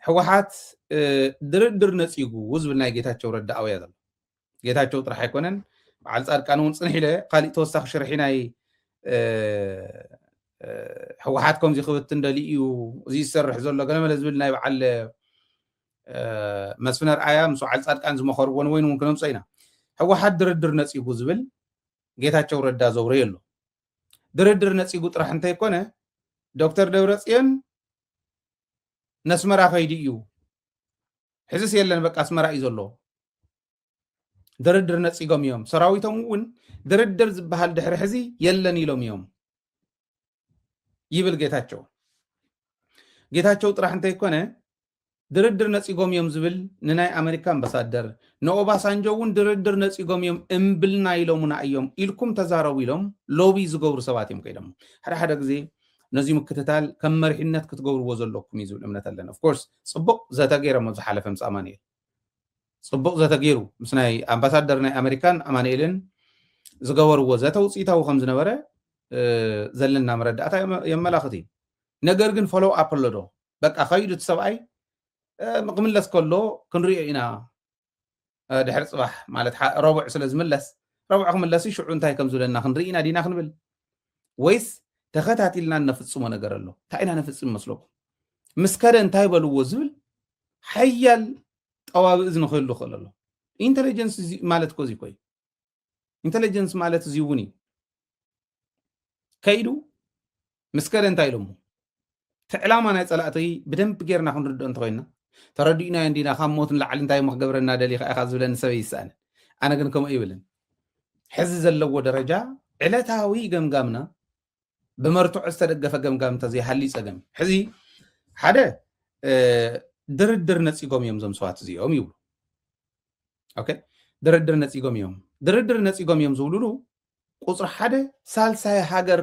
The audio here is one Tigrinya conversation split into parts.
ሕወሓት ድርድር ነፂጉ ዝብል ናይ ጌታቸው ረዳ ኣውያ ዘሎ ጌታቸው ጥራሕ ኣይኮነን በዓል ፃድቃን እውን ፅንሕ ኢለ ካሊእ ተወሳኺ ሽርሒ ናይ ሕወሓት ከምዚ ክብትን ደሊ እዩ እዚ ዝሰርሕ ዘሎ ገለመለ ዝብል ናይ በዓል መስፍን ኣርኣያ ምስ በዓል ፃድቃን ዝመኸርዎ ንወይን እውን ክነምፀ ኢና ሕወሓት ድርድር ነፂጉ ዝብል ጌታቸው ረዳ ዘውረየ ኣሎ ድርድር ነፂጉ ጥራሕ እንተይኮነ ዶክተር ደብረፅዮን ነስመራ ከይዱ እዩ ሕዝስ የለን በቃ ኣስመራ እዩ ዘሎ ድርድር ነፂጎም እዮም ሰራዊቶም እውን ድርድር ዝበሃል ድሕሪ ሕዚ የለን ኢሎም እዮም ይብል ጌታቸው ጌታቸው ጥራሕ እንተይኮነ ድርድር ነፂጎም እዮም ዝብል ንናይ ኣሜሪካ ኣምባሳደር ንኦባሳንጆ እውን ድርድር ነፂጎም እዮም እምብልና ኢሎሙና እዮም ኢልኩም ተዛረቡ ኢሎም ሎቢ ዝገብሩ ሰባት እዮም ከይዶም ሓደ ሓደ ግዜ ነዚ ምክትታል ከም መሪሕነት ክትገብርዎ ዘለኩም እዩ ዝብል እምነት ኣለኒ of course ጽቡቅ ዘተ ጌሮም ኣብ ዝሓለፈ ምስ ኣማኒኤል ጽቡቅ ዘተ ጌሩ ምስ ናይ ኣምባሳደር ናይ ኣመሪካን ኣማኒኤልን ዝገበርዎ ዘተ ውጽኢታዊ ከም ዝነበረ ዘለና መረዳእታ የመላኽት እዩ ነገር ግን ፎሎው ኣፕ ኣሎ ዶ በቃ ከይዱ እቲ ሰብኣይ ክምለስ ከሎ ክንሪኦ ኢና ድሕሪ ፅባሕ ማለት ረቡዕ ስለ ዝምለስ ረቡዕ ክምለስ ሽዑ እንታይ ከም ዝብለና ክንርኢ ኢና ዲና ክንብል ወይስ ተኸታቲልና እነፍፅሞ ነገር ኣሎ እንታይ ኢና ነፍፅም መስለኩም ምስ ከደ እንታይ በልዎ ዝብል ሓያል ጠዋቢ እዝኒ ክህሉ ክእል ኣሎ ኢንቴሊጀንስ ማለት ኮዚ ኮይ ኢንተለጀንስ ማለት እዚ እውን እዩ ከይዱ ምስ ከደ እንታይ ኢሎሞ እቲ ዕላማ ናይ ፀላእቲ ብደንብ ጌርና ክንርድኦ እንተኮይና ተረዲእናዮ እንዲና ካብ ሞት ንላዕሊ እንታይ ሞ ክገብረና ደሊካ ኢካ ዝብለኒ ሰብ ይሰኣን ኣነ ግን ከምኡ ይብልን ሕዚ ዘለዎ ደረጃ ዕለታዊ ገምጋምና ብመርትዖ ዝተደገፈ ገምጋም እንተዘይሃልዩ ፀገም እዩ። ሕዚ ሓደ ድርድር ነፂጎም እዮም እዞም ሰባት እዚኦም ይብሉ። ኦኬ ድርድር ነፂጎም እዮም ድርድር ነፂጎም እዮም ዝብልሉ ቁፅሪ ሓደ ሳልሳይ ሃገር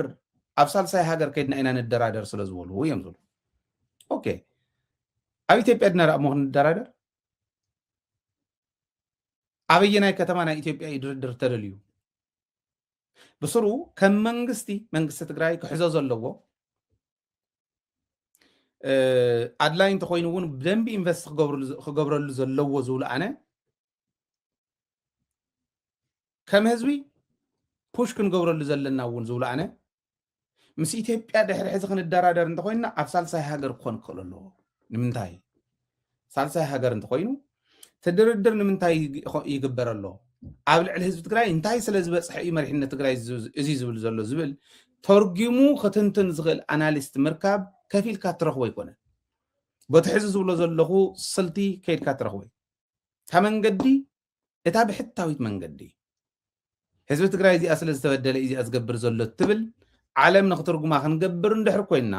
ኣብ ሳልሳይ ሃገር ከይድና ኢና ንደራደር ስለ ዝበሉ እዮም ዝብሉ። ኦኬ ኣብ ኢትዮጵያ ድና ደኣ እሞ ክንደራደር ኣበየናይ ከተማ ናይ ኢትዮጵያ እዩ ድርድር ተደልዩ? ብስሩ ከም መንግስቲ መንግስቲ ትግራይ ክሕዞ ዘለዎ ኣድላይ እንተኮይኑ እውን ብደንቢ ኢንቨስት ክገብረሉ ዘለዎ ዝብሉ ኣነ ከም ህዝቢ ፑሽ ክንገብረሉ ዘለና እውን ዝብሉ ኣነ ምስ ኢትዮጵያ ድሕሪ ሕዚ ክንደራደር እንተኮይንና ኣብ ሳልሳይ ሃገር ክኾን ክኽእል ኣለዎ ንምንታይ ሳልሳይ ሃገር እንተኮይኑ ትድርድር ንምንታይ ይግበር ኣሎ ኣብ ልዕሊ ህዝቢ ትግራይ እንታይ ስለ ዝበፅሐ እዩ መሪሕነት ትግራይ እዚ ዝብል ዘሎ ዝብል ተርጊሙ ክትንትን ዝኽእል ኣናሊስት ምርካብ ከፊልካ ትረኽቦ ኣይኮነን በቲ ሕዚ ዝብሎ ዘለኹ ስልቲ ከይድካ ትረኽቦ እዩ ካብ መንገዲ እታ ብሕታዊት መንገዲ ህዝቢ ትግራይ እዚኣ ስለ ዝተበደለ እዩ እዚኣ ዝገብር ዘሎ እትብል ዓለም ንክትርጉማ ክንገብር እንድሕር ኮይንና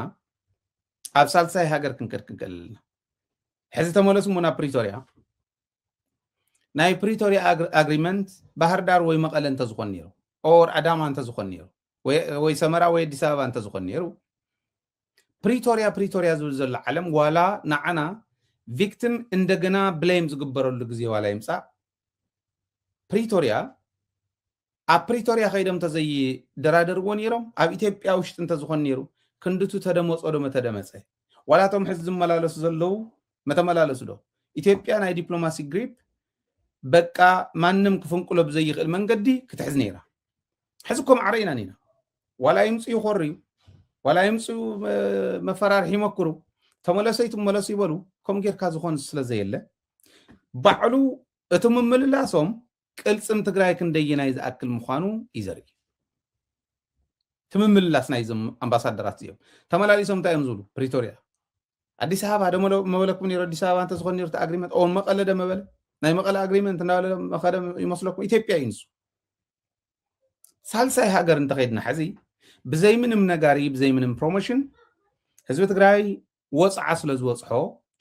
ኣብ ሳልሳይ ሃገር ክንከድ ክንክእል ኣለና ሕዚ ተመለሱ እሞ ናብ ፕሪቶሪያ ናይ ፕሪቶሪያ ኣግሪመንት ባህርዳር ወይ መቐለ እንተዝኾን ነይሩ ኦር ኣዳማ እንተዝኾን ነይሩ ወይ ሰመራ ወይ ኣዲስ ኣበባ እንተዝኾን ነይሩ ፕሪቶሪያ ፕሪቶሪያ ዝብል ዘሎ ዓለም ዋላ ንዓና ቪክቲም እንደገና ብሌም ዝግበረሉ ግዜ ዋላ ይምፃእ ፕሪቶሪያ ኣብ ፕሪቶሪያ ከይዶም እንተዘይደራደርዎ ነይሮም ኣብ ኢትዮጵያ ውሽጢ እንተዝኾን ነይሩ ክንድቱ ተደመፆ ዶ መተደመፀ ዋላ እቶም ሕዚ ዝመላለሱ ዘለዉ መተመላለሱ ዶ ኢትዮጵያ ናይ ዲፕሎማሲ ግሪፕ በቃ ማንም ክፍንቅሎ ብዘይኽእል መንገዲ ክትሕዝ ነይራ ሕዚ እኮ ማዕረ ኢና ኒና ዋላ ይምፁ ይኮርዩ ዋላ ይምፁ መፈራርሒ ይመክሩ ተመለሰይ ትመለሱ ይበሉ ከምኡ ጌርካ ዝኾን ስለዘየለ ባዕሉ እቲ ምምልላሶም ቅልፅም ትግራይ ክንደየናይ ዝኣክል ምዃኑ እዩ ዘርኢ እቲ ምምልላስ ናይዞም ኣምባሳደራት እዚኦም ተመላሊሶም እንታይ እዮም ዝብሉ ፕሪቶሪያ ኣዲስ ኣበባ ዶ መበለኩም ነይሩ ኣዲስ ኣበባ እንተዝኾን ነይሩ እቲ ኣግሪመንት ኦን መቐለ ዶ መበለ ናይ መቐለ ኣግሪመንት እናበለ መኸደ ይመስለኩም ኢትዮጵያ እዩ ንሱ ሳልሳይ ሃገር እንተኸይድና ሕዚ ብዘይ ምንም ነጋሪ ብዘይ ምንም ፕሮሞሽን ህዝቢ ትግራይ ወፅዓ ስለ ዝበፅሖ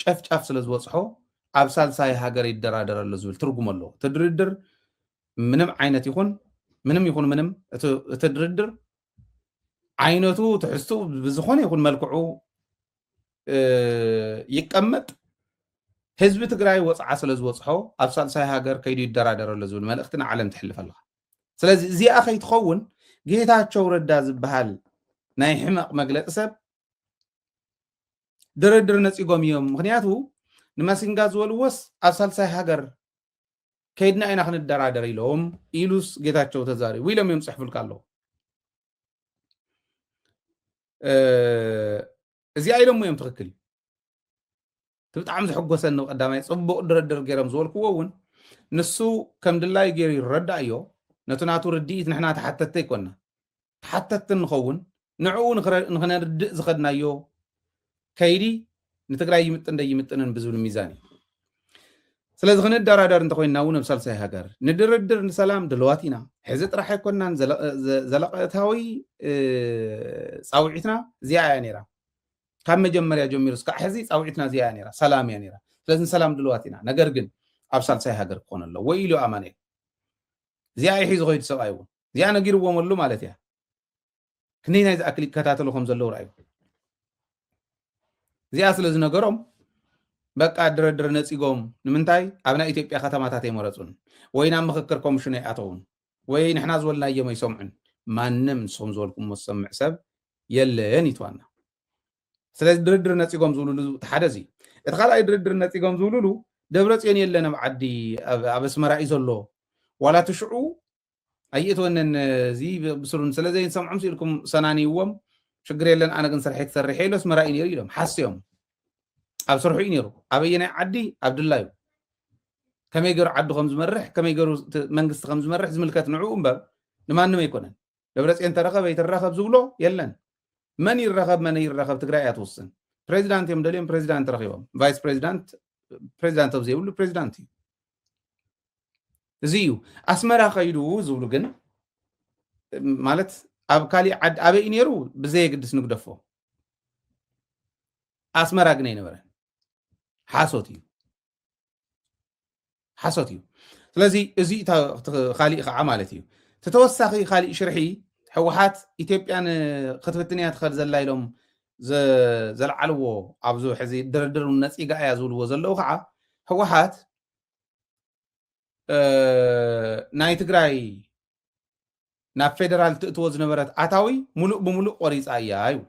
ጨፍጫፍ ስለ ዝበፅሖ ኣብ ሳልሳይ ሃገር ይደራደረሉ ዝብል ትርጉም ኣለዎ እቲ ድርድር ምንም ዓይነት ይኹን ምንም ይኹን ምንም እቲ ድርድር ዓይነቱ ትሕዝትኡ ብዝኾነ ይኹን መልክዑ ይቀመጥ ህዝቢ ትግራይ ወፅዓ ስለ ዝበፅሖ ኣብ ሳልሳይ ሃገር ከይዱ ይደራደረሎ ዝብል መልእኽቲ ንዓለም ትሕልፍ ኣለካ ስለዚ እዚኣ ከይትኸውን ጌታቸው ረዳ ዝበሃል ናይ ሕመቕ መግለፂ ሰብ ድርድር ነፂጎም እዮም ምክንያቱ ንማሲንጋ ዝበልዎስ ኣብ ሳልሳይ ሃገር ከይድና ኢና ክንደራደር ኢሎም ኢሉስ ጌታቸው ተዛሪቡ ኢሎም እዮም ፅሕፉልካ ኣለዉ እዚኣ ኢሎሞ እዮም ትኽክል እዩ እቲ ብጣዕሚ ዘሐጎሰኒ ቀዳማይ ፅቡቅ ድርድር ገይሮም ዝበልክዎ እውን ንሱ ከም ድላዩ ገይሩ ይረዳእ እዮ ነቲ ናቱ ርድኢት ንሕና ተሓተቲ ኣይኮና ተሓተትቲ ንኸውን፣ ንዕኡ ንክነርድእ ዝኸድናዮ ከይዲ ንትግራይ ይምጥን ደይምጥንን ብዝብል ሚዛን እዩ። ስለዚ ክንደራደር እንተኮይንና እውን ኣብ ሳልሳይ ሃገር ንድርድር ንሰላም ድልዋት ኢና። ሕዚ ጥራሕ ኣይኮናን ዘለቐታዊ ፃውዒትና እዚኣ እያ ነይራ። ካብ መጀመርያ ጀሚሩ እስካዕ ሕዚ ፃውዒትና እዚኣ እያ ነይራ፣ ሰላም እያ ነይራ። ስለዚ ንሰላም ድልዋት ኢና፣ ነገር ግን ኣብ ሳልሳይ ሃገር ክኾን ኣለዎ ኢሉ ኣማኑኤል። እዚኣ እዩ ሒዙ ከይዱ ሰብኣይ እውን እዚኣ ነጊርዎም ኣሉ ማለት እያ ክንደይ ናይ ዝኣክል ይከታተሉ ከም ዘለዉ ርኣዩ እዚኣ ስለ ዝነገሮም በቃ ድረድር ነፂጎም ንምንታይ ኣብ ናይ ኢትዮጵያ ከተማታት ኣይመረፁን ወይ ናብ ምክክር ኮሚሽን ኣይኣተውን ወይ ንሕና ዝበልናዮም ኣይሰምዑን ማንም ንስኹም ዝበልኩሞ ዝሰምዕ ሰብ የለን ይትዋና ስለዚ ድርድር ነፂጎም ዝብልሉ እቲ ሓደ እዚ እቲ ካልኣይ ድርድር ነፂጎም ዝብልሉ ደብረፅዮን የለን ኣብ ዓዲ ኣብ ኣስመራ እዩ ዘሎ ዋላ እቲ ሽዑ ኣይእትወንን እዚ ብስሩን ስለ ዘይንሰምዖም ስኢልኩም ሰናንይዎም ሽግር የለን ኣነ ግን ስርሐይ ክሰርሕ ኢለ ኣስመራ እዩ ነይሩ ኢሎም ሓስዮም ኣብ ስርሑ እዩ ነይሩ ኣበየናይ ዓዲ ኣብ ድላ እዩ ከመይ ገሩ ዓዱ ከም ዝመርሕ ከመይ ገሩ መንግስቲ ከም ዝመርሕ ዝምልከት ንዕኡ እምበር ንማንም ኣይኮነን ደብረፅዮን ተረኸበ ይትረኸብ ዝብሎ የለን መን ይረኸብ መን ይረኸብ ትግራይ እያ ትውስን ፕሬዚዳንት እዮም ደልዮም ፕሬዚዳንት ረኪቦም ቫይስ ፕሬዚዳንት ፕሬዚዳንት ኣብ ዘይብሉ ፕሬዚዳንት እዩ እዚ እዩ ኣስመራ ከይዱ ዝብሉ ግን ማለት ኣብ ካሊእ ዓዲ ኣበይ እዩ ነይሩ ብዘየግድስ ንግደፎ ኣስመራ ግን ኣይነበረን ሓሶት እዩ ሓሶት እዩ ስለዚ እዚ ካሊእ ከዓ ማለት እዩ ተተወሳኺ ካሊእ ሽርሒ ሕወሓት ኢትዮጵያ ክትብትን እያ ትኸል ዘላ ኢሎም ዘልዓልዎ ኣብዚ ሕዚ ድርድር ነፂጋ እያ ዝብልዎ ዘለዉ ከዓ ሕወሓት ናይ ትግራይ ናብ ፌደራል ትእትዎ ዝነበረት ኣታዊ ሙሉእ ብሙሉእ ቆሪፃ እያ ይብሉ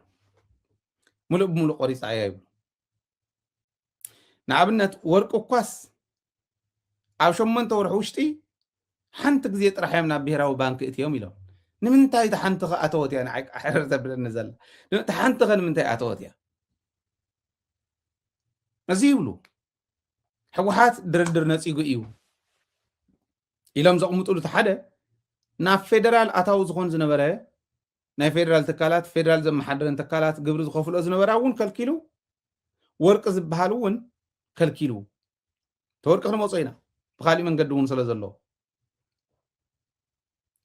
ሙሉእ ብሙሉእ ቆሪፃ እያ ይብሉ ንኣብነት ወርቂ እኳስ ኣብ ሸሞንተ ወርሒ ውሽጢ ሓንቲ ግዜ ጥራሕ እዮም ናብ ብሄራዊ ባንኪ እትዮም ኢሎም ንምንታይ እቲ ሓንቲ ከ ኣተወት እያ ንዓይ ሕርር ዘብለኒ ዘላ እቲ ሓንቲ ከ ንምንታይ ኣተወት እያ እዚ ይብሉ ሕወሓት ድርድር ነፂጉ እዩ ኢሎም ዘቕምጥሉ እቲ ሓደ ናብ ፌደራል ኣታዊ ዝኾን ዝነበረ ናይ ፌደራል ትካላት ፌደራል ዘመሓደረን ትካላት ግብሪ ዝኸፍልኦ ዝነበራ እውን ከልኪሉ ወርቂ ዝበሃል እውን ከልኪሉ ተወርቂ ክንመፆ ኢና ብካሊእ መንገዲ እውን ስለ ዘሎ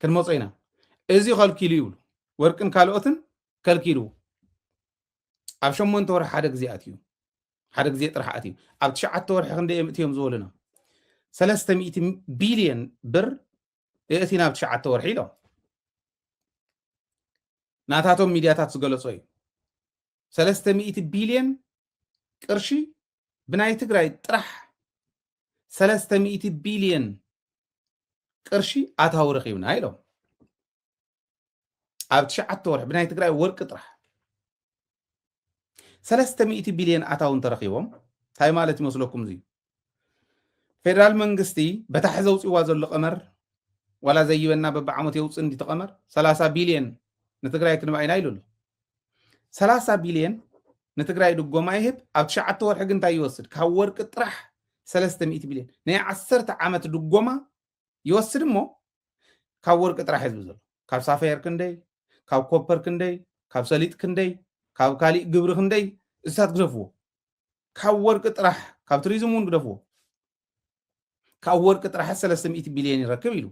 ክንመፆ ኢና እዚ ከልኪሉ ይብሉ ወርቅን ካልኦትን ከልኪሉ ኣብ ሸሞንተ ወርሒ ሓደ ግዜ ኣትዩ ሓደ ግዜ ጥራሕ ኣትዩ ኣብ ትሽዓተ ወርሒ ክንደይ እዮም እትዮም ዝበሉና ሰለስተ ሚእቲ ቢልዮን ብር የእቲና ኣብ ትሽዓተ ወርሒ ኢሎም ናታቶም ሚድያታት ዝገለጾ እዩ ሰለስተ ሚእቲ ቢልዮን ቅርሺ ብናይ ትግራይ ጥራሕ ሰለስተ ሚእቲ ቢልዮን ቅርሺ ኣታዊ ረኺብና ኢሎም ኣብ ትሽዓተ ወርሒ ብናይ ትግራይ ወርቂ ጥራሕ ሰለስተ ሚእቲ ቢልዮን ኣታው እንተረኺቦም እንታይ ማለት ይመስለኩም እዙ ፌደራል መንግስቲ በታሕ ዘውፅዋ ዘሎ ቀመር ዋላ ዘይበና በብዓመት የውፅ እንዲ ተቐመር ሰላሳ ቢልዮን ንትግራይ ክንባ ኢና ኢሉ ኣሎ ሰላሳ ቢልዮን ንትግራይ ድጎማ ይህብ ኣብ ትሽዓተ ወርሒ ግን እንታይ ይወስድ ካብ ወርቂ ጥራሕ ሰለስተ ሚእቲ ቢልዮን ናይ ዓሰርተ ዓመት ድጎማ ይወስድ እሞ ካብ ወርቂ ጥራሕ ህዝቢ ዘሎ ካብ ሳፋየር ክንደይ ካብ ኮፐር ክንደይ ካብ ሰሊጥ ክንደይ ካብ ካሊእ ግብሪ ክንደይ እሳት ግደፍዎ ካብ ወርቂ ጥራሕ ካብ ቱሪዝም እውን ግደፍዎ ካብ ወርቂ ጥራሕ ሰለስተ ሚእቲ ቢልዮን ይረክብ ኢሉ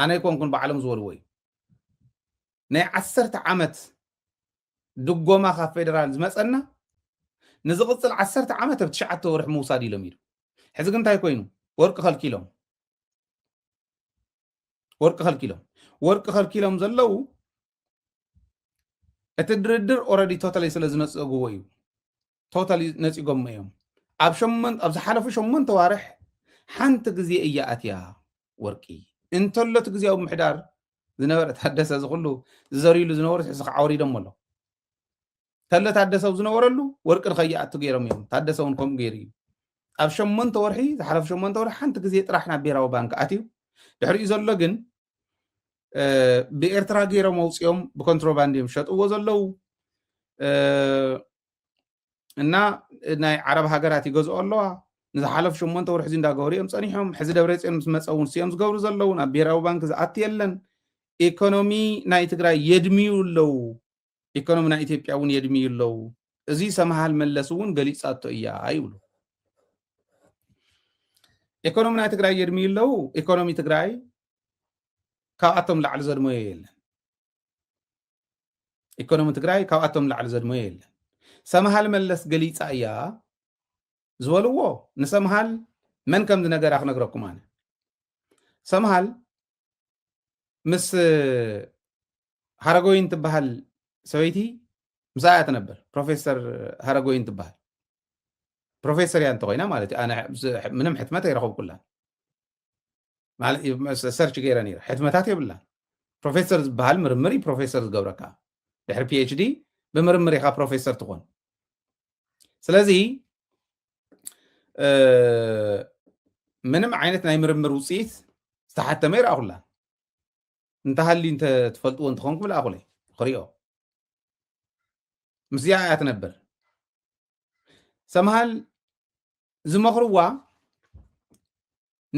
ኣነ ኣይኮንኩን ባዕሎም ዝበልዎ እዩ ናይ ዓሰርተ ዓመት ድጎማ ካብ ፌደራል ዝመፀና ንዝቕፅል ዓሰርተ ዓመት ኣብ ትሽዓተ ወርሒ ምውሳድ ኢሎም ኢሉ ሕዚ ግን እንታይ ኮይኑ ወርቂ ከልኪሎም ወርቂ ከልኪሎም ወርቂ ከልኪሎም ዘለው እቲ ድርድር ኦረዲ ቶታሊ ስለ ዝነፀግዎ እዩ ቶታሊ ነፂጎሞ እዮም ኣብ ሸመን ኣብ ዝሓለፉ ሸመንተ ዋርሕ ሓንቲ ግዜ እያ ኣትያ ወርቂ እንተሎቲ ግዜያዊ ምሕዳር ዝነበረ ታደሰ ዝኩሉ ዝዘርይሉ ዝነበሩ ሕዚ ከዓውሪዶሞ ኣሎ ከለ ታደሰ ኣብ ዝነበረሉ ወርቂ ንከይኣቱ ገይሮም እዮም ታደሰ እውን ከምኡ ገይሩ እዩ ኣብ ሸሞንተ ወርሒ ዝሓለፉ ሸሞንተ ወርሒ ሓንቲ ግዜ ጥራሕ ናብ ብሄራዊ ባንክ ኣትዩ ድሕሪኡ ዘሎ ግን ብኤርትራ ገይሮም ኣውፅኦም ብኮንትሮባንድ እዮም ሸጥዎ ዘለው እና ናይ ዓረብ ሃገራት ይገዝኦ ኣለዋ ንዝሓለፉ ሸሞንተ ወርሒ እዚ እንዳገበሩ እዮም ፀኒሖም ሕዚ ደብረፅዮን ምስ መፀ እውን ስዮም ዝገብሩ ዘለውን ኣብ ብሄራዊ ባንክ ዝኣት የለን ኢኮኖሚ ናይ ትግራይ የድምዩ ኣለው ኢኮኖሚ ናይ ኢትዮጵያ እውን የድምዩ ኣለው። እዚ ሰምሃል መለስ እውን ገሊፃቶ እያ ይብሉ። ኢኮኖሚ ናይ ትግራይ የድምዩ ኣለው። ኢኮኖሚ ትግራይ ካብኣቶም ላዕሊ ዘድመዮ የለን። ኢኮኖሚ ትግራይ ካብኣቶም ላዕሊ ዘድመዮ የለን። ሰምሃል መለስ ገሊፃ እያ ዝበልዎ ንሰምሃል መን ከም ዝነገራ ክነግረኩም ኣነ ሰምሃል ምስ ሃረጎይን ትበሃል ሰበይቲ ምስኣ እያ ትነብር ፕሮፌሰር ሃረጎይን ትበሃል ፕሮፌሰር እያ እንተኮይና ማለት እዩ ኣነ ምንም ሕትመት ኣይረኸብኩላ ሰርች ገይረ ነይረ ሕትመታት የብላ ፕሮፌሰር ዝበሃል ምርምር እዩ ፕሮፌሰር ዝገብረካ ድሕሪ ፒኤችዲ ብምርምር ኢኻ ፕሮፌሰር ትኾን ስለዚ ምንም ዓይነት ናይ ምርምር ውፅኢት ዝተሓተመ ይረኣኹላ እንተሃልዩ እንተ ትፈልጥዎ እንትኾንኩም ልኣኹለይ ክሪኦ ምስዚኣ እያ ትነብር ሰምሃል ዝመኽርዋ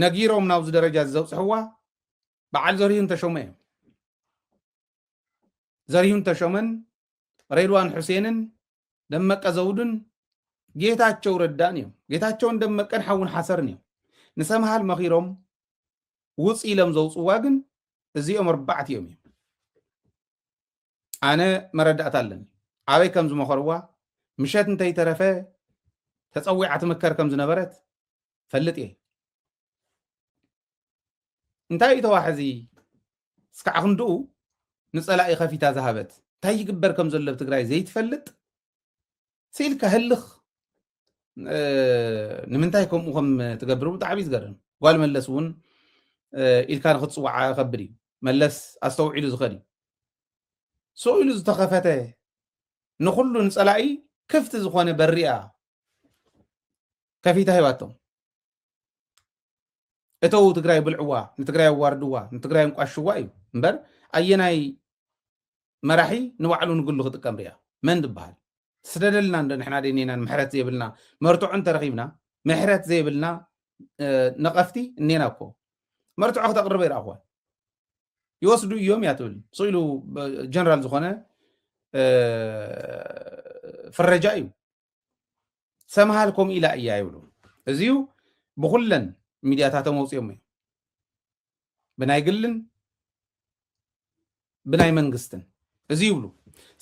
ነጊሮም ናብዚ ደረጃ ዘብፅሕዋ በዓል ዘሪሁን ተሾመ እዮም ዘሪሁን ተሾመን ሬድዋን ሑሴንን ደመቀ ዘውዱን ጌታቸው ረዳን እዮም። ጌታቸውን ደመቀን ሓውን ሓሰርን እዮም። ንሰምሃል መኺሮም ውፅ ኢሎም ዘውፅዋ ግን እዚኦም ኣርባዕት እዮም እዮም። ኣነ መረዳእታ ኣለኒ ኣበይ ከም ዝመኸርዋ ምሸት እንተይተረፈ ተፀዊዓ ትምከር ከም ዝነበረት ፈልጥ እየ። እንታይ እዩ ተዋሕዚ እስካዕ ክንድኡ ንፀላኢ ከፊታ ዝሃበት እንታይ ይግበር ከም ዘሎ ኣብ ትግራይ ዘይትፈልጥ ስኢልካ ህልኽ ንምንታይ ከምኡ ከም ትገብር ብጣዕሚ ዝገርም ጓል መለስ እውን ኢልካ ንክትፅዋዓ ከብድ እዩ መለስ ኣስተውዒሉ ዝኸድ እዩ ሰው ኢሉ ዝተኸፈተ ንኩሉ ንፀላኢ ክፍቲ ዝኾነ በሪያ ከፊታ ሂባቶም እተው ትግራይ ብልዕዋ ንትግራይ ኣዋርድዋ ንትግራይ እንቋሽዋ እዩ እምበር ኣየናይ መራሒ ንባዕሉ ንግሉ ክጥቀም ርያ መን ዝበሃል ትስደደልና እንዶ ንሕና ደኔናን ምሕረት ዘይብልና መርትዖ እንተረኺብና ምሕረት ዘይብልና ነቐፍቲ እኔና እኮ መርትዖ ክተቕርበ ይረኣኹዋ ይወስዱ እዮም እያ ትብል ስኢሉ ጀነራል ዝኾነ ፍረጃ እዩ ሰምሃል ከምኡ ኢላ እያ ይብሉ እዚዩ ብኩለን ሚድያታቶም ኣውፅኦም እዩ ብናይ ግልን ብናይ መንግስትን እዚ ይብሉ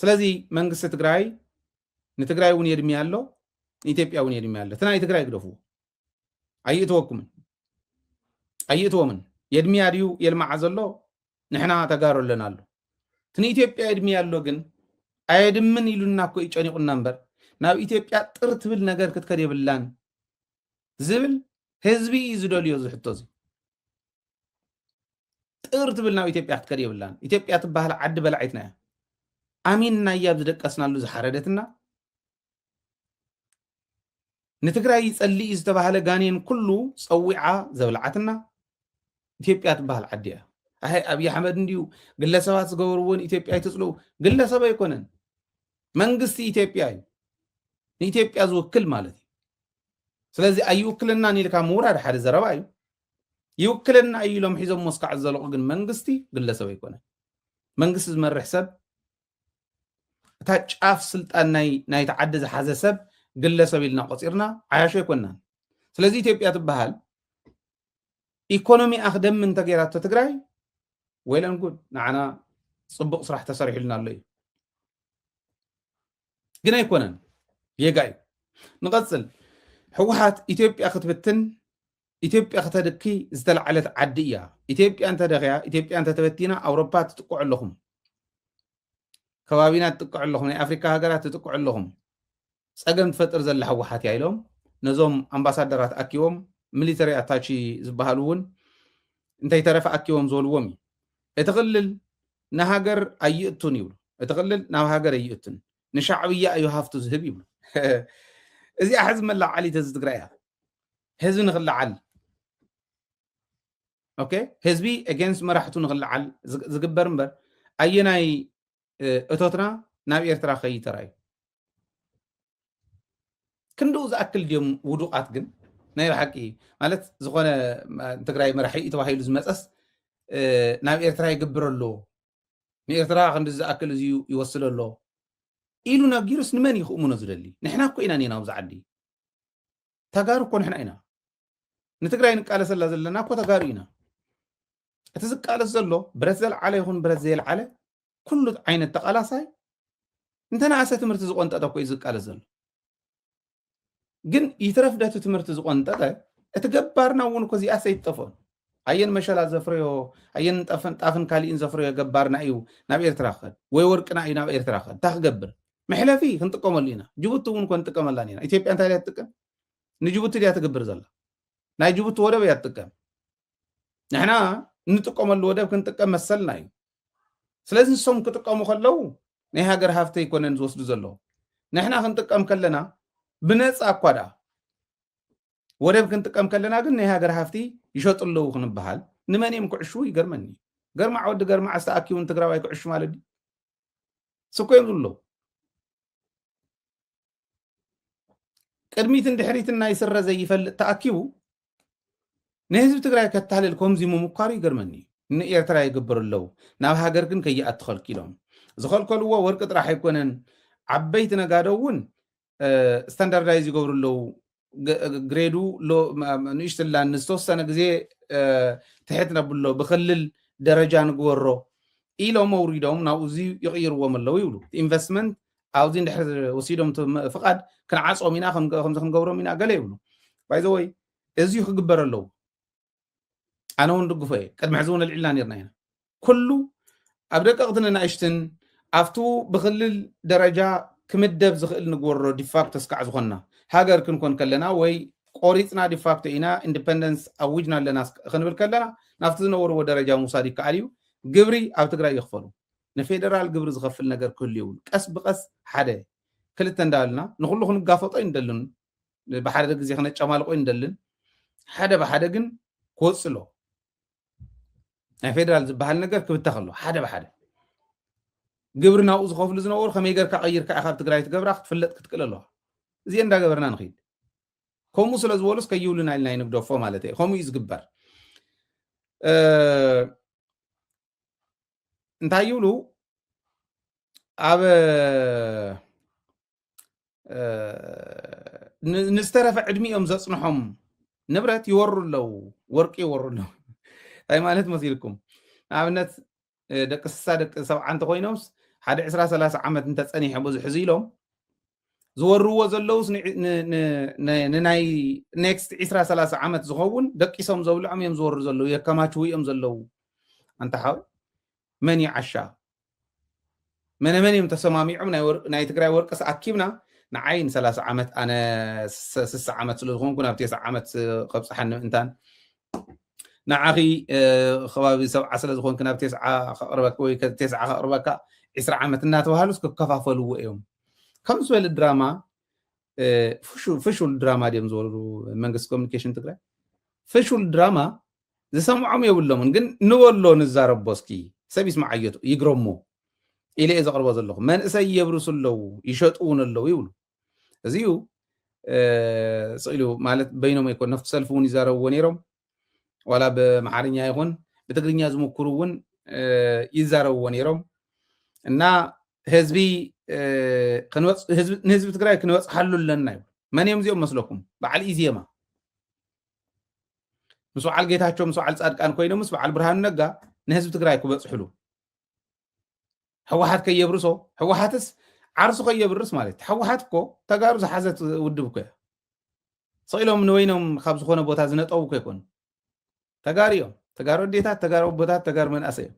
ስለዚ መንግስቲ ትግራይ ንትግራይ እውን የድሚ ኣሎ ንኢትዮጵያ እውን የድሚ ኣሎ እቲ ናይ ትግራይ ግደፍዎ ኣይእትወኩምን ኣይእትዎምን የድምያ ድዩ የልማዓ ዘሎ ንሕና ተጋሩ ኣለና ኣሎ እቲ ንኢትዮጵያ የድምያ ኣሎ ግን ኣየድምን ኢሉና እኮ እዩ ጨኒቑና እምበር ናብ ኢትዮጵያ ጥር ትብል ነገር ክትከድ የብላን ዝብል ህዝቢ እዩ ዝደልዮ እዚ ሕቶ እዚ ጥር ትብል ናብ ኢትዮጵያ ክትከድ የብላን ኢትዮጵያ ትበሃል ዓዲ በላዒትና እያ ኣሚንናያ ብዝደቀስናሉ ዝሓረደትና ንትግራይ ይጸልእ እዩ ዝተባህለ ጋኔን ኩሉ ጸዊዓ ዘብልዓትና ኢትዮጵያ ትበሃል ዓዲ እያ። ኣይ ኣብይ ኣሕመድ እንድዩ ግለሰባት ዝገበርዎን ኢትዮጵያ ይትፅልኡ ግለሰብ ኣይኮነን መንግስቲ ኢትዮጵያ እዩ ንኢትዮጵያ ዝውክል ማለት እዩ ስለዚ ኣይውክልናን ኢልካ ምውራድ ሓደ ዘረባ እዩ ይውክልና እዩ ኢሎም ሒዞም ሞስካዕ ዘለቑ ግን መንግስቲ ግለሰብ ኣይኮነን መንግስቲ ዝመርሕ ሰብ እታ ጫፍ ስልጣን ናይቲ ዓዲ ዝሓዘ ሰብ ግለሰብ ኢልና ቆፂርና ዓያሾ ኣይኮናን ስለዚ ኢትዮጵያ ትበሃል ኢኮኖሚ ኣክደሚ እንተገይራቶ ትግራይ ወይለን ጉድ ንዓና ፅቡቅ ስራሕ ተሰሪሕልና ኣሎ እዩ ግን ኣይኮነን ጌጋ እዩ ንቐፅል ህወሓት ኢትዮጵያ ክትብትን ኢትዮጵያ ክተድኪ ዝተላዕለት ዓዲ እያ። ኢትዮጵያ እንተደኺያ፣ ኢትዮጵያ እንተተበቲና ኣውሮፓ ትጥቅዑ ኣለኹም፣ ከባቢና ትጥቅዑ ኣለኹም፣ ናይ ኣፍሪካ ሃገራት ትጥቅዑ ኣለኹም፣ ፀገም ትፈጥር ዘላ ህወሓት እያ ኢሎም ነዞም ኣምባሳደራት ኣኪቦም ሚሊተሪ ኣታቺ ዝበሃሉ እውን እንተይተረፈ ኣኪቦም ዝበልዎም እዩ እቲ ክልል ንሃገር ኣይእቱን ይብሉ እቲ ክልል ናብ ሃገር ኣይእቱን ንሻዕብያ እዩ ሃፍቱ ዝህብ ይብሉ እዚኣ ሕዚ መላዓሊት እዚ ትግራይ እያ ህዝቢ ንክለዓል ኦኬ ህዝቢ ኤጌንስት መራሕቱ ንክለዓል ዝግበር እምበር ኣየናይ እቶትና ናብ ኤርትራ ከይ ተራእዩ ክንድኡ ዝኣክል ድዮም ውዱቓት ግን ናይ ብሓቂ ማለት ዝኾነ ትግራይ መራሒ እዩ ተባሂሉ ዝመፀስ ናብ ኤርትራ ይግብር ኣሎ ንኤርትራ ክንዲ ዝኣክል እዚ ይወስድ ኣሎ ኢሉ ነጊሩስ ንመን እዩ ክእምኖ ዝደሊ ንሕና እኮ ኢና ኔና ኣብዚ ዓዲ ተጋሩ እኮ ንሕና ኢና ንትግራይ ንቃለሰላ ዘለና እኮ ተጋሩ ኢና እቲ ዝቃለስ ዘሎ ብረት ዘልዓለ ይኹን ብረት ዘየልዓለ ኩሉ ዓይነት ተቃላሳይ እንተነኣሰ ትምህርቲ ዝቆንጠጠ እኮ እዩ ዝቃለስ ዘሎ ግን ይትረፍ ደቲ ትምህርቲ ዝቆንጠጠ እቲ ገባርና እውን እኮ እዚኣስ ኣይትጠፍኦን ኣየን መሸላ ዘፍረዮ ኣየን ጣፍን ካሊእን ዘፍረዮ ገባርና እዩ ናብ ኤርትራ ክኸድ ወይ ወርቅና እዩ ናብ ኤርትራ ክኸድ እንታይ ክገብር መሕለፊ ክንጥቀመሉ ኢና ጅቡቲ እውን እኮ ንጥቀመላን ኢና ኢትዮጵያ እንታይ ድያ ትጥቀም ንጅቡቲ ድያ ትግብር ዘላ ናይ ጅቡቲ ወደብ እያ ትጥቀም ንሕና እንጥቀመሉ ወደብ ክንጥቀም መሰልና እዩ ስለዚ ንሶም ክጥቀሙ ከለው ናይ ሃገር ሃፍቲ ኣይኮነን ዝወስዱ ዘለዉ ንሕና ክንጥቀም ከለና ብነፃ እኳ ደኣ ወደብ ክንጥቀም ከለና ግን ናይ ሃገር ሃፍቲ ይሸጡ ኣለዉ ክንበሃል ንመን እዮም ክዕሽዉ ይገርመኒ ገርማዕ ወዲ ገርማዕ ዝተኣኪውን ትግራዋይ ክዕሹ ማለት ድዩ ስኮ የብሉ ቅድሚትን ድሕሪትን ናይ ስረ ዘይፈልጥ ተኣኪቡ ንህዝቢ ትግራይ ከታልል ከምዚ ምምኳሩ ይገርመኒ ንኤርትራ ይግብር ኣለዉ ናብ ሃገር ግን ከይኣትኸልኪሎም ዝኸልከልዎ ወርቂ ጥራሕ ኣይኮነን ዓበይቲ ነጋዶ እውን ስታንዳርዳይዝ ይገብሩ ኣለዉ ግሬዱ ንእሽትላን ንዝተወሰነ ግዜ ትሕት ነብሎ ብክልል ደረጃ ንግበሮ ኢሎም ኣውሪዶም ናብኡ እዚ ይቕይርዎም ኣለዉ ይብሉ ኢንቨስትመንት ኣብዚ ንድሕር ወሲዶም ፍቓድ ክንዓፆም ኢና ከምዚ ክንገብሮም ኢና ገለ ይብሉ ባይዘወይ እዚ ክግበር ኣለዉ ኣነ እውን ድግፎ እየ ቅድሚ ሕዚ እውን ኣልዒልና ነርና ኢና ኩሉ ኣብ ደቀቕትን ንናእሽትን ኣብቲ ብክልል ደረጃ ክምደብ ዝኽእል ንግበሮ ዲፋክቶ ስካዕ ዝኾንና ሃገር ክንኮን ከለና ወይ ቆሪፅና ዲፋክቶ ኢና ኢንዲፐንደንስ ኣዊጅና ኣለና ክንብል ከለና ናብቲ ዝነበርዎ ደረጃ ምውሳድ ይከኣል እዩ ግብሪ ኣብ ትግራይ ይኽፈሉ ንፌደራል ግብሪ ዝኸፍል ነገር ክህሉ ይብሉ ቀስ ብቀስ ሓደ ክልተ እንዳበልና ንኩሉ ክንጋፈጦ ይንደልን ብሓደ ግዜ ክነጨማልቆ ንደልን ሓደ ብሓደ ግን ክወፅ ኣለዎ ናይ ፌደራል ዝበሃል ነገር ክብተኽ ኣሎ ሓደ ብሓደ ግብሪ ናብኡ ዝኸፍሉ ዝነበሩ ከመይ ገርካ ቀይርካ ኢኻ ኣብ ትግራይ ትገብራ ክትፍለጥ ክትክእል ኣለዋ እዚኦ እንዳገበርና ንኽድ ከምኡ ስለ ዝበሉስ ከይብሉና ኢልና ይንግደፎ ማለት እዩ ከምኡ እዩ ዝግበር እንታይ ይብሉ ኣብ ንዝተረፈ ዕድሚኦም ዘፅንሖም ንብረት ይወሩ ኣለዉ ወርቂ ይወሩ ኣለዉ እንታይ ማለት መሲልኩም ንኣብነት ደቂ ስሳ ደቂ ሰብዓ እንተኮይኖምስ ሓደ ዕስራ ሰላሳ ዓመት እንተፀኒሐ ብዙሕ እዚ ኢሎም ዝወርዎ ዘለውስ ንናይ ኔክስት ዕስራ ሰላሳ ዓመት ዝኸውን ደቂሶም ዘብልዖም እዮም ዝወሩ ዘለዉ የከማችው እዮም ዘለዉ ኣንታ ሓወይ መን እዩ ዓሻ መነመን እዮም ተሰማሚዖም ናይ ትግራይ ወርቅስ ኣኪብና ንዓይ ንሰላሳ ዓመት ኣነ ስሳ ዓመት ስለ ዝኾንኩ ናብ ቴስዓ ዓመት ከብፅሓኒ ምእንታን ንዓኺ ከባቢ ሰብዓ ስለ ዝኾንክ ናብ ቴስዓ ከቕርበካ ወይ ቴስዓ ከቕርበካ ዕስራ ዓመት እናተባሃሉስ ክከፋፈልዎ እዮም ከም ዝበለ ድራማ ፍሹል ድራማ ድዮም ዝወርዱ መንግስቲ ኮሚኒኬሽን ትግራይ ፍሹል ድራማ ዝሰምዖም የብሎምን ግን ንበሎ ንዛረቦ እስኪ ሰብ ይስምዓዮቱ ይግረሞ ኢለ እየ ዘቕርቦ ዘለኹ መንእሰይ የብርሱ ኣለዉ ይሸጡ እውን ኣለዉ ይብሉ እዚዩ ስኢሉ ማለት በይኖም ኣይኮን ነፍቲ ሰልፊ እውን ይዛረብዎ ነይሮም ዋላ ብመሓርኛ ይኹን ብትግርኛ ዝምክሩ እውን ይዛረብዎ ነይሮም እና ህዝቢ ንህዝቢ ትግራይ ክንበፅሓሉ ኣለና ይብሉ መን እዮም እዚኦም መስለኩም በዓል ኢዜማ ምስ በዓል ጌታቸው ምስ በዓል ፃድቃን ኮይኖም ምስ በዓል ብርሃኑ ነጋ ንህዝቢ ትግራይ ክበፅሕሉ ህወሓት ከየብርሶ ህወሓትስ ዓርሱ ከየብርስ ማለት እዩ ህወሓት እኮ ተጋሩ ዝሓዘት ውድብ እኮ እያ ስኢሎም ንወይኖም ካብ ዝኾነ ቦታ ዝነጠቡ እኮ ይኮኑ ተጋሩ እዮም ተጋሩ ኣዴታት ተጋሩ ኣቦታት ተጋሩ መንእሰይ እዮም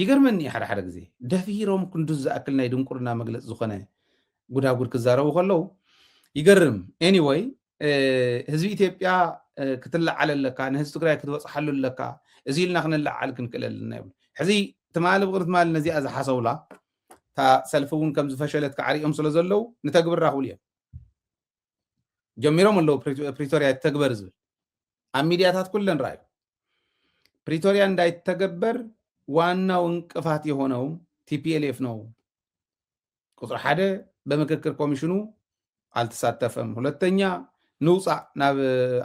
ይገርመኒ እዩ ሓደሓደ ግዜ ደፊሮም ክንዱዝ ዝኣክል ናይ ድንቁርና መግለፂ ዝኾነ ጉዳጉድ ክዛረቡ ከለው ይገርም ኤኒወይ ህዝቢ ኢትዮጵያ ክትለዓል ኣለካ ንህዝቢ ትግራይ ክትበፅሓሉ ኣለካ እዚ ኢልና ክንለዓል ክንክእል ኣለና ይብሉ ሕዚ ትማሊ ብቅሪ ትማሊ ነዚኣ ዝሓሰውላ እታ ሰልፊ እውን ከም ዝፈሸለት ክዓሪኦም ስለ ዘለው ንተግብር ራክብሉ እዮም ጀሚሮም ኣለዉ ፕሪቶርያ ይተግበር ዝብል ኣብ ሚድያታት ኩለን ረኣዩ ፕሪቶርያ እንዳይተገበር ዋናው እንቅፋት የሆነው ቲፒኤልኤፍ ነው ቁፅሪ ሓደ በምክክር ኮሚሽኑ አልተሳተፈም ሁለተኛ ንውፃእ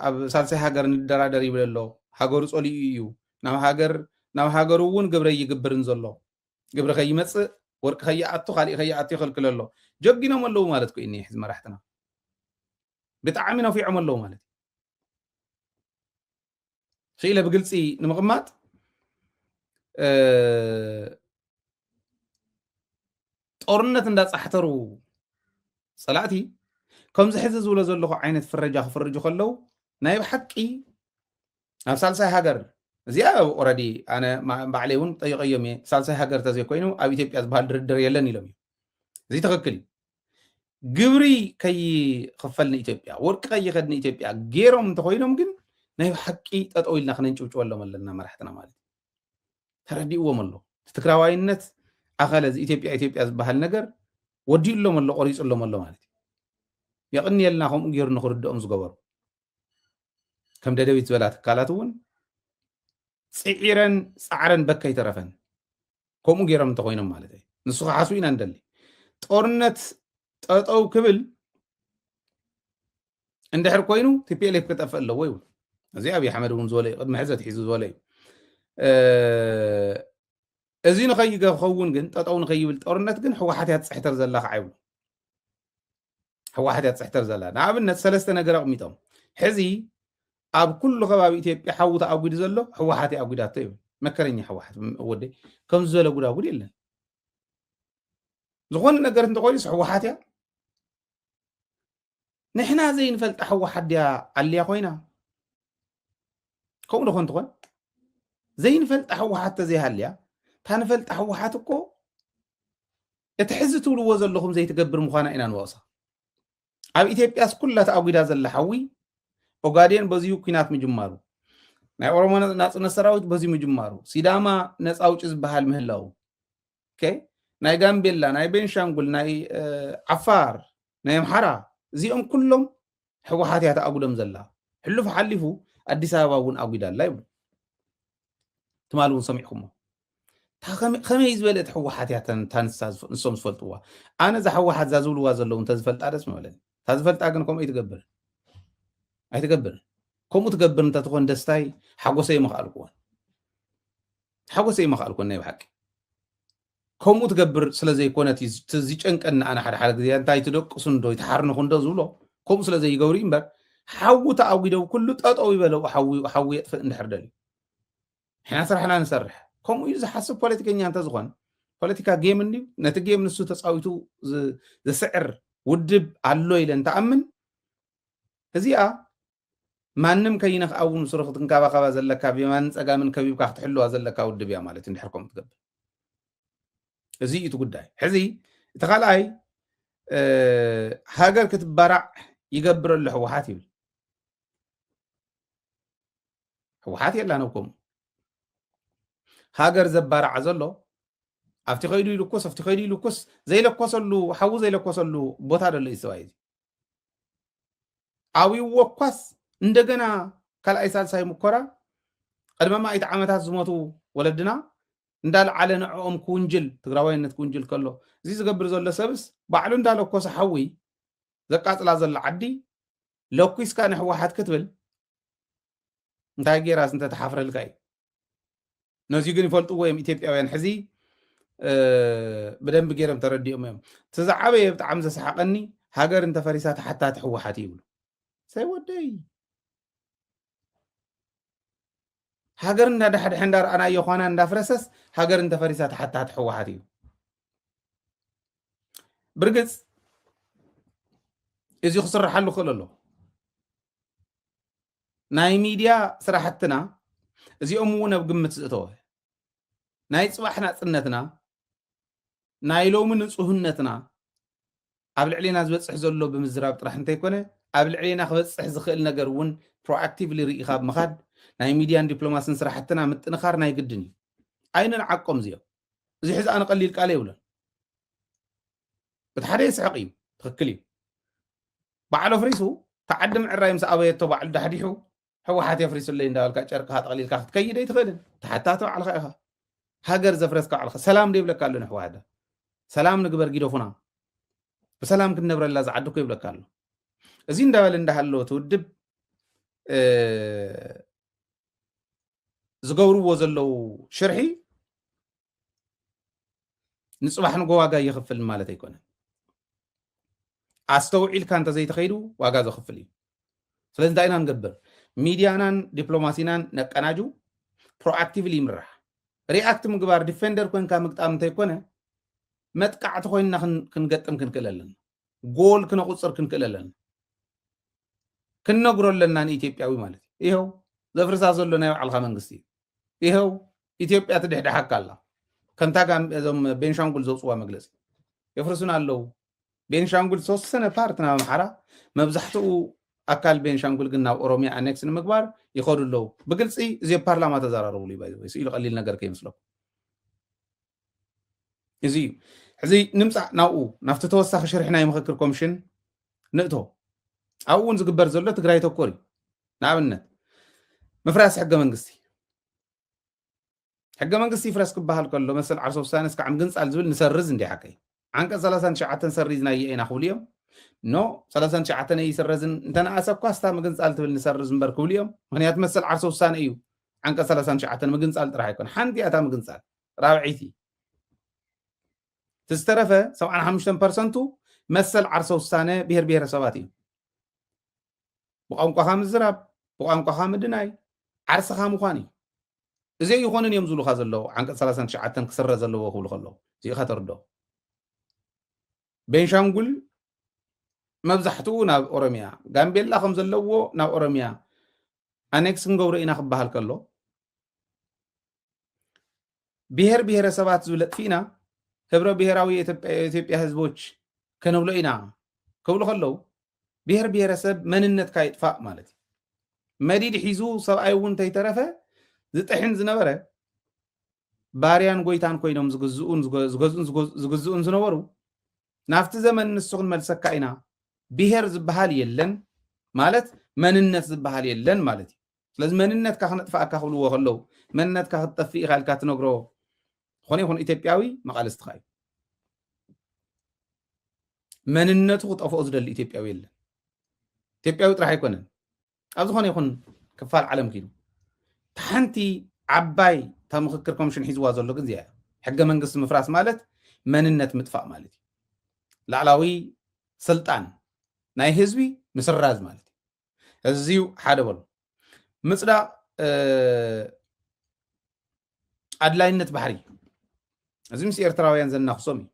ኣብ ሳልሳይ ሃገር ንደራደር ይብል ኣሎ ሃገሩ ፀሊኡ እዩ ናብ ሃገር ናብ ሃገሩ እውን ግብረ ይግብርን ዘሎ ግብሪ ከይመጽእ ወርቂ ከይኣቱ ካሊእ ከይኣቱ ይኸልክል ኣሎ ጀጊኖም ኣለዉ ማለት ኮይኑ ሕዚ መራሕትና ብጣዕሚ ነፊዖም ኣለዉ ማለት ክኢለ ብግልፂ ንምቕማጥ ጦርነት እንዳፃሕተሩ ፀላእቲ ከምዚ ሕዚ ዝብሎ ዘለኹ ዓይነት ፍረጃ ክፍርጁ ከለዉ ናይ ብሓቂ ናብ ሳልሳይ ሃገር እዚኣ ኦረዲ ኣነ ባዕለይ እውን ጠይቀዮም እየ ሳልሳይ ሃገር ተዘይኮይኑ ኣብ ኢትዮጵያ ዝበሃል ድርድር የለን ኢሎም እዩ እዚ ትክክል እዩ ግብሪ ከይኽፈል ንኢትዮጵያ ወርቂ ከይኸድ ንኢትዮጵያ ገይሮም እንተኮይኖም ግን ናይ ሓቂ ጠጠው ኢልና ክነንጭብጭበሎም ኣለና መራሕትና ማለት እዩ ተረዲእዎም ኣሎ ትግራዋይነት ኣኸለ እዚ ኢትዮጵያ ኢትዮጵያ ዝበሃል ነገር ወዲኡሎም ኣሎ ቆሪፁሎም ኣሎ ማለት እዩ የቕንየልና ከምኡ ገይሩ ንክርድኦም ዝገበሩ ከም ደደቢት ዝበላ ትካላት እውን ፅዒረን ፃዕረን በካ ይተረፈን ከምኡ ገይሮም እንተኮይኖም ማለት እዩ ንሱ ክሓስቡ ኢና ንደሊ ጦርነት ጠጠው ክብል እንድሕር ኮይኑ ቲፒኤልኤፍ ክጠፍእ ኣለዎ ይብል እዚ ኣብዪ ኣሕመድ እውን ዝበለ እዩ ቅድሚ ሕዚ ኣትሒዙ ዝበለ እዩ እዚ ንኸይገኸውን ግን ጠጠው ንኸይብል ጦርነት ግን ህወሓት እያ ትፅሕተር ዘላ ከዓ ይብሉ ህወሓት እያ ትፅሕተር ዘላ ንኣብነት ሰለስተ ነገር ኣቕሚጦም ሕዚ ኣብ ኩሉ ከባቢ ኢትዮጵያ ሓዊ ተኣጒዱ ዘሎ ህወሓት እያ ኣጒዳቶ ይብል መከረኛ ህወሓት ወደይ ከም ዝበለ ጉዳጉድ የለን ዝኾነ ነገር እንተኮይኑስ ህወሓት እያ ንሕና ዘይንፈልጣ ህወሓት ድያ ኣልያ ኮይና ከምኡ ዶ ኮንትኾን ዘይንፈልጣ ህወሓት ተዘይሃልያ እታ ንፈልጣ ህወሓት እኮ እቲ ሕዚ ትብልዎ ዘለኹም ዘይትገብር ምዃና ኢና ንወቕሳ። ኣብ ኢትዮጵያስ ኩላ ተኣጒዳ ዘላ ሓዊ ኦጋዴን በዚሁ ኩናት ምጅማሩ፣ ናይ ኦሮሞ ናጽነት ሰራዊት በዚ ምጅማሩ፣ ሲዳማ ነፃ ኣውጪ ዝበሃል ምህላው፣ ናይ ጋምቤላ፣ ናይ ቤንሻንጉል፣ ናይ ዓፋር፣ ናይ ኣምሓራ እዚኦም ኩሎም ሕወሓት እያ ተኣጉዶም ዘላ ሕሉፍ ሓሊፉ ኣዲስ ኣበባ እውን ኣጒዳ ኣላ ይብሉ ትማል እውን ሰሚዕኩሞ ከመይ ዝበለ እቲ ሕወሓት እያ ታንሳ ንሶም ዝፈልጥዋ ኣነ እዛ ሕወሓት እዛ ዝብልዋ ዘለዉ እንተዝፈልጣ ደስ ምበለኒ እታ ዝፈልጣ ግን ከምኡ ኣይትገብርን ኣይትገብርን ከምኡ ትገብር እንተትኾን ደስታይ ሓጎሰይ መኽኣልኩዎን ሓጎሰይ መኽኣልኩዎን ናይ ብሓቂ ከምኡ ትገብር ስለ ዘይኮነት እዩ እቲ ዝጨንቀኒ ኣነ ሓደ ሓደ ግዜ እንታይ ትደቅሱ እንዶ ይትሓርንኹ እንዶ ዝብሎ ከምኡ ስለ ዘይገብሩ እዩ እምበር ሓዊ ተኣጒደው ኩሉ ጠጠው ይበለው ሓዊ ሓዊ የጥፍእ እንድሕር ደልዩ ንሕና ስራሕና ንሰርሕ ከምኡ እዩ ዝሓስብ ፖለቲከኛ እንተዝኾን ፖለቲካ ጌም እንድዩ ነቲ ጌም ንሱ ተፃዊቱ ዘስዕር ውድብ ኣሎ ኢለ እንትኣምን እዚኣ ማንም ከይነኽኣ እውን ሱሩ ክትንካባኸባ ዘለካ ብየማንን ፀጋምን ከቢብካ ክትሕልዋ ዘለካ ውድብ እያ ማለት እዩ እንድሕር ከምኡ ትገብር እዚ እዩ እቲ ጉዳይ ሕዚ እቲ ካልኣይ ሃገር ክትበራዕ ይገብረሉ ሕወሓት ይብል ሕወሓት የላን ኣብ ከምኡ ሃገር ዘባራዕ ዘሎ ኣብቲ ከይዱ ይልኩስ ኣብቲ ከይዱ ይልኩስ ዘይለኮሰሉ ሓዊ ዘይለኮሰሉ ቦታ ደሎ እዩ ሰብኣይ እዚ ኣብይዎ እኳስ እንደገና ካልኣይ ሳልሳይ ሙኮራ ቅድመ ማእት ዓመታት ዝሞቱ ወለድና እንዳልዓለ ንዕኦም ክውንጅል ትግራዋይነት ክውንጅል ከሎ እዚ ዝገብር ዘሎ ሰብስ ባዕሉ እንዳለኮሰ ሓዊ ዘቃፅላ ዘሎ ዓዲ ለኩስካ ንሕወሓት ክትብል እንታይ ጌራስ እንተተሓፍረልካ እዩ ነዚ ግን ይፈልጥዎ እዮም ኢትዮጵያውያን ሕዚ ብደንቢ ገይሮም ተረዲኦም እዮም እቲ ዝዓበየ ብጣዕሚ ዘሰሓቀኒ ሃገር እንተፈሪሳ ተሓታቲ ሕወሓት ይብሉ ሰይ ወደይ ሃገር እንዳዳሕድሐ እንዳረኣናዮ ኳና እንዳፍረሰስ ሃገር እንተፈሪሳ ተሓታቲ ሕወሓት እዩ ብርግፅ እዚ ክስርሓሉ ክእል ኣሎ ናይ ሚድያ ስራሕትና እዚኦም እውን ኣብ ግምት ዝእተወ ናይ ፅባሕ ናፅነትና ናይ ሎሚ ንፁህነትና ኣብ ልዕሌና ዝበፅሕ ዘሎ ብምዝራብ ጥራሕ እንተይኮነ ኣብ ልዕሌና ክበፅሕ ዝኽእል ነገር እውን ፕሮኣክቲቭሊ ርኢኻ ኣብ ምኻድ ናይ ሚድያን ዲፕሎማሲን ስራሕትና ምጥንኻር ናይ ግድን እዩ ኣይንንዓቆም እዚኦም እዚ ሕዚ ኣነ ቀሊል ቃል የብሎን እቲ ሓደ የስሕቕ እዩ ትኽክል እዩ ባዕሉ ኣፍሪሱ ተዓዲ ምዕራይ ምስ ኣበየቶ ባዕሉ ዳሕዲሑ ሕወሓት የፍሪሱለይ እንዳበልካ ጨርቅኻ ጠቕሊልካ ክትከይድ ኣይትኽእልን ተሓታቲ ባዕልኻ ኢኻ ሃገር ዘፍረስካ ባዕልኻ ሰላም ዶ ይብለካ ኣሎ ንሕወሓት ሰላም ንግበር ጊደፉና ብሰላም ክንነብረላ ዝዓዲ እኮ ይብለካ ኣሎ እዚ እንዳበለ እንዳሃሎ እቲ ውድብ ዝገብርዎ ዘለው ሽርሒ ንፅባሕ ንጎ ዋጋ ይኽፍል ማለት ኣይኮነን ኣስተውዒልካ እንተዘይተኸይዱ ዋጋ ዘኽፍል እዩ ስለዚ እንታይ ኢና ንገብር ሚድያናን ዲፕሎማሲናን ነቀናጁ ፕሮኣክቲቭሊ ይምራሕ ሪኣክት ምግባር ዲፌንደር ኮንካ ምግጣም እንተይኮነ መጥቃዕቲ ኮይንና ክንገጥም ክንክእል ኣለና ጎል ክነቁፅር ክንክእል ኣለና ክንነግሮ ኣለና ንኢትዮጵያዊ ማለት እዩ ይኸው ዘፍርሳ ዘሎ ናይ ባዕልካ መንግስቲ እዩ ይኸው ኢትዮጵያ ትድሕድሓካ ኣላ ከምታ ጋም- እዞም ቤንሻንጉል ዘውፅዋ መግለፂ የፍርሱና ኣለው ቤንሻንጉል ዝተወሰነ ፓርት ናብ ኣምሓራ መብዛሕትኡ ኣካል ቤንሻንጉል ግን ናብ ኦሮሚያ ኣኔክስ ንምግባር ይኸዱ ኣለው ብግልፂ እዚ ኣብ ፓርላማ ተዘራረብሉ እዩ ባይ ዘ ወይ። ስኢሉ ቀሊል ነገር ከይመስለኩም እዚ እዩ ሕዚ ንምፃእ ናብኡ ናብቲ ተወሳኺ ሽርሒ ናይ ምክክር ኮሚሽን ንእቶ ኣብኡ እውን ዝግበር ዘሎ ትግራይ ተኮር እዩ ንኣብነት ምፍራስ ሕገ መንግስቲ ሕገ መንግስቲ ይፍረስ ክበሃል ከሎ መሰል ዓርሰ ውሳነ እስካዕ ምግንፃል ዝብል ንሰርዝ እንዲ ሓቀይ ዓንቀፅ ሰላሳን ትሽዓተን ሰሪዝናዮ ኢና ክብሉ እዮም ኖ ሰላሳን ትሽዓተን ኣይስረዝን እንተነኣሰ እኳ ስታ ምግንፃል ትብል ንሰርዝ እምበር ክብሉ እዮም ምክንያቱ መሰል ዓርሰ ውሳነ እዩ ዓንቀፅ ሰላሳን ትሽዓተን ምግንፃል ጥራሕ ኣይኮነ ሓንቲ እያ እታ ምግንፃል ራብዐይቲ እቲ ዝተረፈ ሰብዓን ሓሙሽተን ፐርሰንቱ መሰል ዓርሰ ውሳነ ብሄር ብሄረሰባት እዩ ብቋንቋኻ ምዝራብ ብቋንቋኻ ምድናይ ዓርስኻ ምዃን እዩ እዚ ኣይኾንን እዮም ዝብሉኻ ዘለዉ ዓንቀፅ 39 ክስረ ዘለዎ ክብሉ ከለዉ እዚኢኻ ተርዶ ቤንሻንጉል መብዛሕትኡ ናብ ኦሮሚያ ጋምቤላ ከም ዘለዎ ናብ ኦሮሚያ ኣኔክስ ክንገብሮ ኢና ክበሃል ከሎ ብሄር ብሄረሰባት ዝብል ኣጥፊእና ህብረ ብሄራዊ ኢትዮጵያ ህዝቦች ከነብሎ ኢና ክብሉ ከለው ብሄር ብሄረሰብ መንነትካ ይጥፋእ ማለት እዩ መዲድ ሒዙ ሰብኣይ እውን እንተይተረፈ ዝጥሕን ዝነበረ ባርያን ጎይታን ኮይኖም ዝግዝኡን ዝገዝኡን ዝግዝኡን ዝነበሩ ናብቲ ዘመን ንሱ ክንመልሰካ ኢና ብሄር ዝበሃል የለን ማለት መንነት ዝበሃል የለን ማለት እዩ ስለዚ መንነትካ ክነጥፍኣካ ክብልዎ ከለው መንነትካ ክትጠፍእ ኢኻ ኢልካ ትነግሮ ዝኾነ ይኹን ኢትዮጵያዊ መቓልስትኻ እዩ መንነቱ ክጠፍኦ ዝደሊ ኢትዮጵያዊ የለን ኢትዮጵያዊ ጥራሕ ኣይኮነን ኣብ ዝኾነ ይኹን ክፋል ዓለም ክኢሉ ሓንቲ ዓባይ እታ ምክክር ኮሚሽን ሒዝዋ ዘሎ ግን እዚኣ ሕገ መንግስቲ ምፍራስ ማለት መንነት ምጥፋእ ማለት እዩ ላዕላዊ ስልጣን ናይ ህዝቢ ምስራዝ ማለት እዩ እዚዩ ሓደ በሉ ምፅዳቕ ኣድላይነት ባሕሪ እዚ ምስ ኤርትራውያን ዘናኽሶም እዩ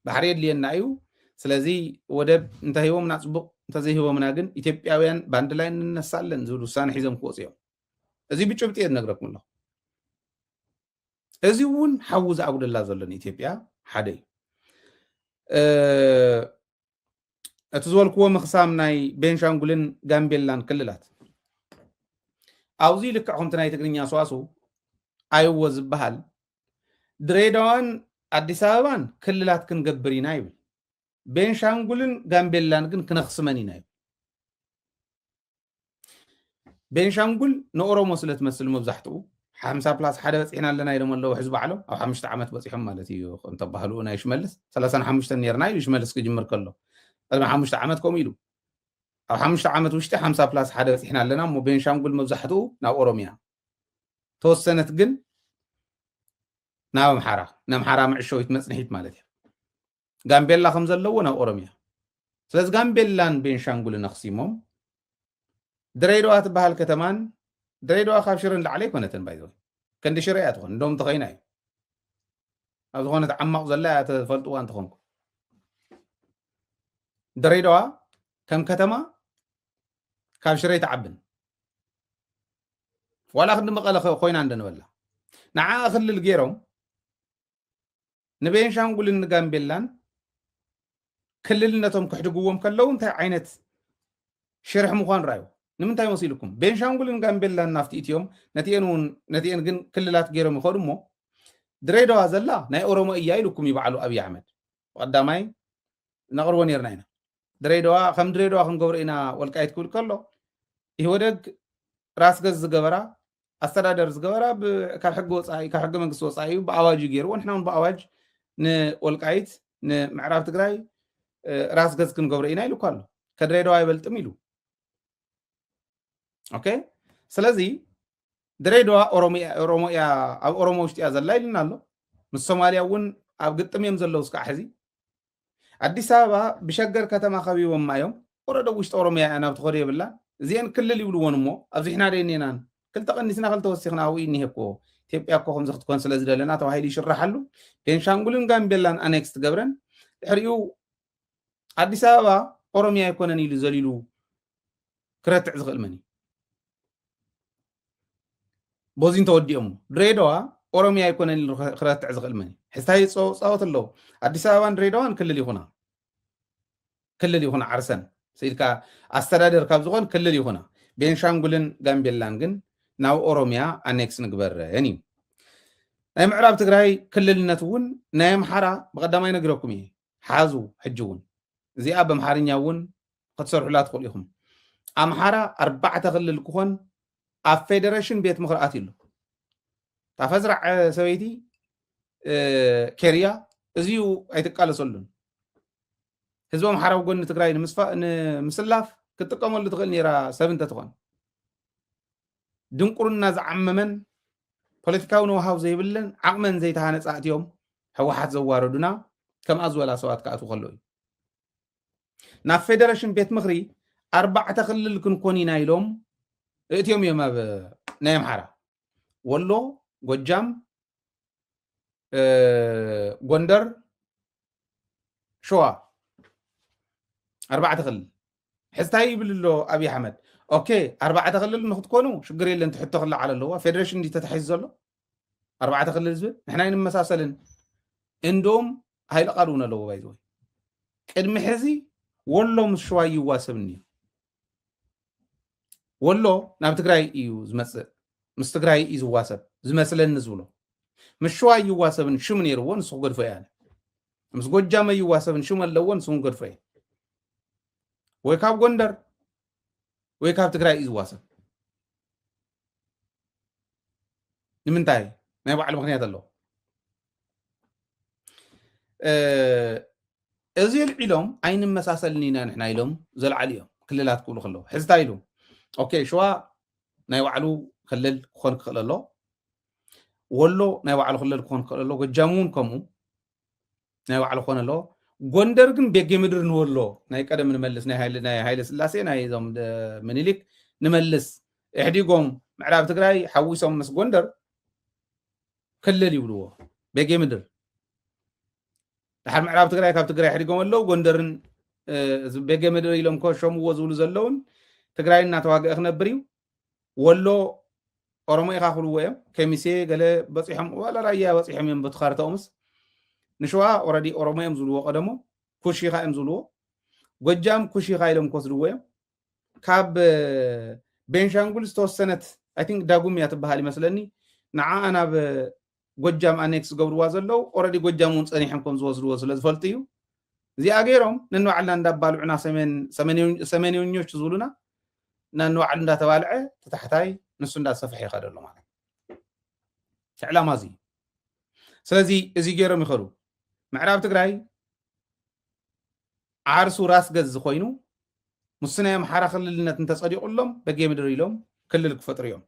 ባሕሪ የድልየና እዩ ስለዚ ወደብ እንተሂቦምና ፅቡቅ እንተዘይሂቦምና ግን ኢትዮጵያውያን ባንድ ላይ እንነሳለን ዝብል ውሳነ ሒዞም ክወፅ እዮም እዚ ብጭብጢ እየ ዝነግረኩም ኣለኹ እዚ እውን ሓዊ ዝኣጉደላ ዘሎ ንኢትዮጵያ ሓደ እዩ እቲ ዝበልክዎ ምኽሳም ናይ ቤንሻንጉልን ጋምቤላን ክልላት ኣብዚ ልክዕ ከምቲ ናይ ትግርኛ ሰዋሱ ኣይዎ ዝበሃል ድሬዳዋን ኣዲስ ኣበባን ክልላት ክንገብር ኢና ይብል ቤንሻንጉልን ጋምቤላን ግን ክነኽስመን ኢና ይብል ቤንሻንጉል ንኦሮሞ ስለ ትመስል መብዛሕትኡ ሓምሳ ፕላስ ሓደ በፂሕና ኣለና ኢሎም ኣለዉ ሕዚ ባዕሎም ኣብ ሓሙሽተ ዓመት በፂሖም ማለት እዩ እንተባህሉ ናይ ሽመልስ ሰላሳን ሓሙሽተን ነርና ኢሉ ሽመልስ ክጅምር ከሎ ቅድሚ ሓሙሽተ ዓመት ከምኡ ኢሉ ኣብ ሓሙሽተ ዓመት ውሽጢ ሓምሳ ፕላስ ሓደ በፂሕና ኣለና እሞ ቤንሻንጉል መብዛሕትኡ ናብ ኦሮሚያ ተወሰነት ግን ናብ ኣምሓራ ንኣምሓራ መዕሸዊት መፅንሒት ማለት እዩ ጋምቤላ ከም ዘለዎ ናብ ኦሮምያ ስለዚ ጋምቤላን ቤንሻንጉልን ኣክሲሞም ድሬዳዋ ትበሃል ከተማን ድሬዳዋ ካብ ሽረ ንላዕሊ ኣይኮነትን ባይዘ ከንዲ ሽረ እያ ትኾን እንደውም ተኸይና እዩ ኣብ ዝኾነት ዓማቕ ዘላ እያ ተፈልጥዋ እንትኾንኩ ድሬዳዋ ከም ከተማ ካብ ሽረ ይትዓብን ዋላ ክንዲ መቐለ ኮይና እንደነበላ ንዓ ክልል ገይሮም ንቤንሻንጉልን ንጋምቤላን ክልልነቶም ክሕድግዎም ከለው እንታይ ዓይነት ሽርሒ ምዃኑ ራዩ ንምንታይ መሲልኩም ቤንሻንጉልን ጋምቤላን ናፍቲ እትዮም ነቲኤን ግን ክልላት ገይሮም ይኸዱ እሞ ድሬዳዋ ዘላ ናይ ኦሮሞ እያ ኢሉኩም እዩ በዓሉ ኣብዪ ኣሕመድ ብቐዳማይ ነቕርቦ ነርና ኢና ድሬዳዋ ከም ድሬዳዋ ክንገብሮ ኢና ወልቃይት ክብል ከሎ ኢህወደግ ራስ ገዝ ዝገበራ ኣስተዳደር ዝገበራ ካብ ሕጊ ወፃኢ ካብ ሕገ መንግስቲ ወፃኢ እዩ ብኣዋጅ እዩ ገይርዎ ንሕና እውን ብኣዋጅ ንወልቃይት ንምዕራብ ትግራይ ራስ ገዝ ክንገብሮ ኢና ኢሉ እኳ ኣሎ ከድሬዳዋ ይበልጥም ኢሉ ኦኬ ስለዚ ድሬዳዋ ኦሮሞ እያ ኣብ ኦሮሞ ውሽጢ እያ ዘላ ኢልና ኣሎ ምስ ሶማልያ እውን ኣብ ግጥም እዮም ዘለዉ እስካዕ ሕዚ ኣዲስ ኣበባ ብሸገር ከተማ ከቢቦማ እዮም ወረደ ኣብ ውሽጢ ኦሮምያ እያ ናብ ትኸዶ የብላን እዚአን ክልል ይብልዎን እሞ ኣብዚሕና ዶ እኔናን ክልተ ቀኒስና ክልተ ወሲኽና ኣብኡ እኒሄ እኮ ኢትዮጵያ እኮ ከምዚ ክትኮን ስለ ዝደለና ተባሂሉ ይሽረሓሉ ቤንሻንጉልን ጋምቤላን ኣኔክስ ትገብረን ድሕሪኡ ኣዲስ ኣበባ ኦሮምያ ኣይኮነን ኢሉ ዘሊሉ ክረትዕ ዝኽእል መን እዩ ቦዚ እንተወዲኦም ድሬዳዋ ኦሮሚያ ኣይኮነን ኢሉ ክረትዕ ዝኽእል መን እዩ ሕዝታይ ፃወት ኣለዉ ኣዲስ ኣበባን ድሬዳዋን ክልል ይኹና ክልል ይኹና ዓርሰን ስኢልካ ኣስተዳደር ካብ ዝኾን ክልል ይኹና ቤንሻንጉልን ጋምቤላን ግን ናብ ኦሮሚያ ኣኔክስ ንግበረን እዩ ናይ ምዕራብ ትግራይ ክልልነት እውን ናይ ኣምሓራ ብቀዳማይ ነግረኩም እየ ሓዙ ሕጂ ውን እዚኣ በምሓርኛ ውን ክትሰርሑላ ትኽእሉ ኢኹም ኣምሓራ ኣርባዕተ ክልል ክኾን ኣብ ፌደሬሽን ቤት ምኽሪ ኣትዩ ኣሎ እታ ፈዝራዕ ሰበይቲ ኬርያ እዚዩ ኣይትቃለሰሉን ህዝቢ ኣምሓራ ኣብ ጎኒ ትግራይ ንምስላፍ ክትጥቀመሉ ትኽእል ነይራ ሰብ እንተትኾን ድንቁርና ዝዓመመን ፖለቲካዊ ነውሃው ዘይብለን ዓቕመን ዘይተሃነፃ እትዮም ህወሓት ዘዋረዱና ከምኣ ዝበላ ሰባት ክኣትዉ ከሎ እዩ ናብ ፌደሬሽን ቤት ምክሪ ኣርባዕተ ክልል ክንኮን ኢና ኢሎም እእትዮም እዮም ኣብ ናይ ኣምሓራ ወሎ ጎጃም ጎንደር ሸዋ ኣርባዕተ ክልል ሕዚ ታይ ይብል ኣሎ ኣብይ ኣሕመድ ኦኬ ኣርባዕተ ክልል ንክትኮኑ ሽግር የለን ትሕቶ ክለዓል ኣለዎ ፌደሬሽን እንዲ ተታሒዙ ዘሎ ኣርባዕተ ክልል ዝብል ንሕና ይንመሳሰልን እንዶም ሃይለ ቃል እውን ኣለዎ ባይዘወይ ቅድሚ ሕዚ ወሎ ምስ ሽዋ ይዋሰብኒ እዩ ወሎ ናብ ትግራይ እዩ ዝመፅእ ምስ ትግራይ እዩ ዝዋሰብ ዝመስለኒ ዝብሎ ምስ ሽዋ ይዋሰብን ሽም ነይርዎ ንሱ ክገድፎ እያ ምስ ጎጃመ ይዋሰብን ሽም ኣለዎ ንሱ ክገድፎ እየ ወይ ካብ ጎንደር ወይ ካብ ትግራይ እዩ ዝዋሰብ ንምንታይ ናይ ባዕሉ ምክንያት ኣለዎ እዚ ኣልዒሎም ኣይንመሳሰልን ኢና ንሕና ኢሎም ዘልዓሉ እዮም ክልላት ክብሉ ከለዉ ሕዝታ ኢሉ ኦኬ ሸዋ ናይ ባዕሉ ክልል ክኾን ክኽእል ኣሎ ወሎ ናይ ባዕሉ ክልል ክኾን ክኽእል ኣሎ ጎጃም እውን ከምኡ ናይ ባዕሉ ክኾን ኣለዎ ጎንደር ግን ቤጌ ምድር ንወሎ ናይ ቀደም ንመልስ ናይ ሃይለ ስላሴ ናይ ዞም ምኒልክ ንመልስ ኢሕዲጎም ምዕራብ ትግራይ ሓዊሶም ምስ ጎንደር ክልል ይብልዎ ቤጌ ምድር ድሓር ምዕራብ ትግራይ ካብ ትግራይ ሕዲጎም ኣለው ጎንደርን ቤጌ ምድር ኢሎም ኮ ሸምዎ ዝብሉ ዘለውን ትግራይ እናተዋግአ ክነብር እዩ ወሎ ኦሮሞ ኢኻ ክብልዎ እዮም ከሚሴ ገለ በፂሖም ዋላ ራያ በፂሖም እዮም በቲ ካርታኦምስ ንሸዋ ኦረዲ ኦሮሞ እዮም ዝብልዎ ቀደሞ ኩሽ ኢኻ እዮም ዝብልዎ ጎጃም ኩሽ ኢኻ ኢሎም ክወስድዎ እዮም ካብ ቤንሻንጉል ዝተወሰነት ኣይ ቲንክ ዳጉም እያ ትበሃል ይመስለኒ ንዓኣ ናብ ጎጃም ኣኔክስ ዝገብርዋ ዘለዉ ኦረዲ ጎጃም እውን ፀኒሖም ከም ዝወስድዎ ስለ ዝፈልጡ እዩ እዚኣ ገይሮም ነንባዕልና እንዳባልዑና ሰሜንኞች ዝብሉና ነንባዕሉ እንዳተባልዐ ተታሕታይ ንሱ እንዳሰፍሐ ይኸደሉ ማለት እቲ ዕላማ እዚ እዩ ስለዚ እዚ ገይሮም ይኸዱ ምዕራብ ትግራይ ዓርሱ ራስ ገዝ ኮይኑ ምስ ናይ ኣምሓራ ክልልነት እንተፀዲቑሎም በጌምድር ኢሎም ክልል ክፈጥሩ እዮም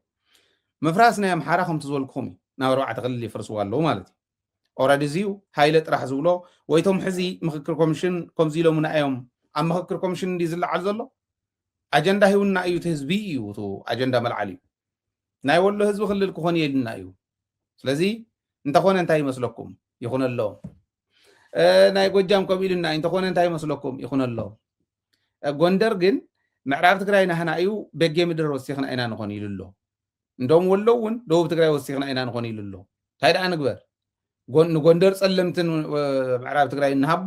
ምፍራስ ናይ ኣምሓራ ከምቲ ዝበልኩኹም እዩ ናብ ኣርባዕተ ክልል ይፍርስዎ ኣለዉ ማለት እዩ ኦረዲ እዚዩ ሃይለ ጥራሕ ዝብሎ ወይቶም ሕዚ ምክክር ኮሚሽን ከምዚ ኢሎምና እዮም ኣብ ምክክር ኮሚሽን እንዲ ዝለዓል ዘሎ ኣጀንዳ ሂውና እዩ እቲ ህዝቢ እዩ እቲ ኣጀንዳ መልዓል እዩ ናይ ወሎ ህዝቢ ክልል ክኾን የልና እዩ ስለዚ እንተኾነ እንታይ ይመስለኩም ይኹነሎ ናይ ጎጃም ከምኡ ኢሉና እንተኾነ እንታይ ይመስለኩም ይኹነሎ ጎንደር ግን ምዕራብ ትግራይ ናህና እዩ በጌ ምድር ወሲኽና ኢና ንኾን ኢሉ ኣሎ እንደም ወሎ እውን ደቡብ ትግራይ ወሲኽና ኢና ንኾን ኢሉ ኣሎ እንታይ ደኣ ንግበር ንጎንደር ፀለምትን ምዕራብ ትግራይ ንሃቦ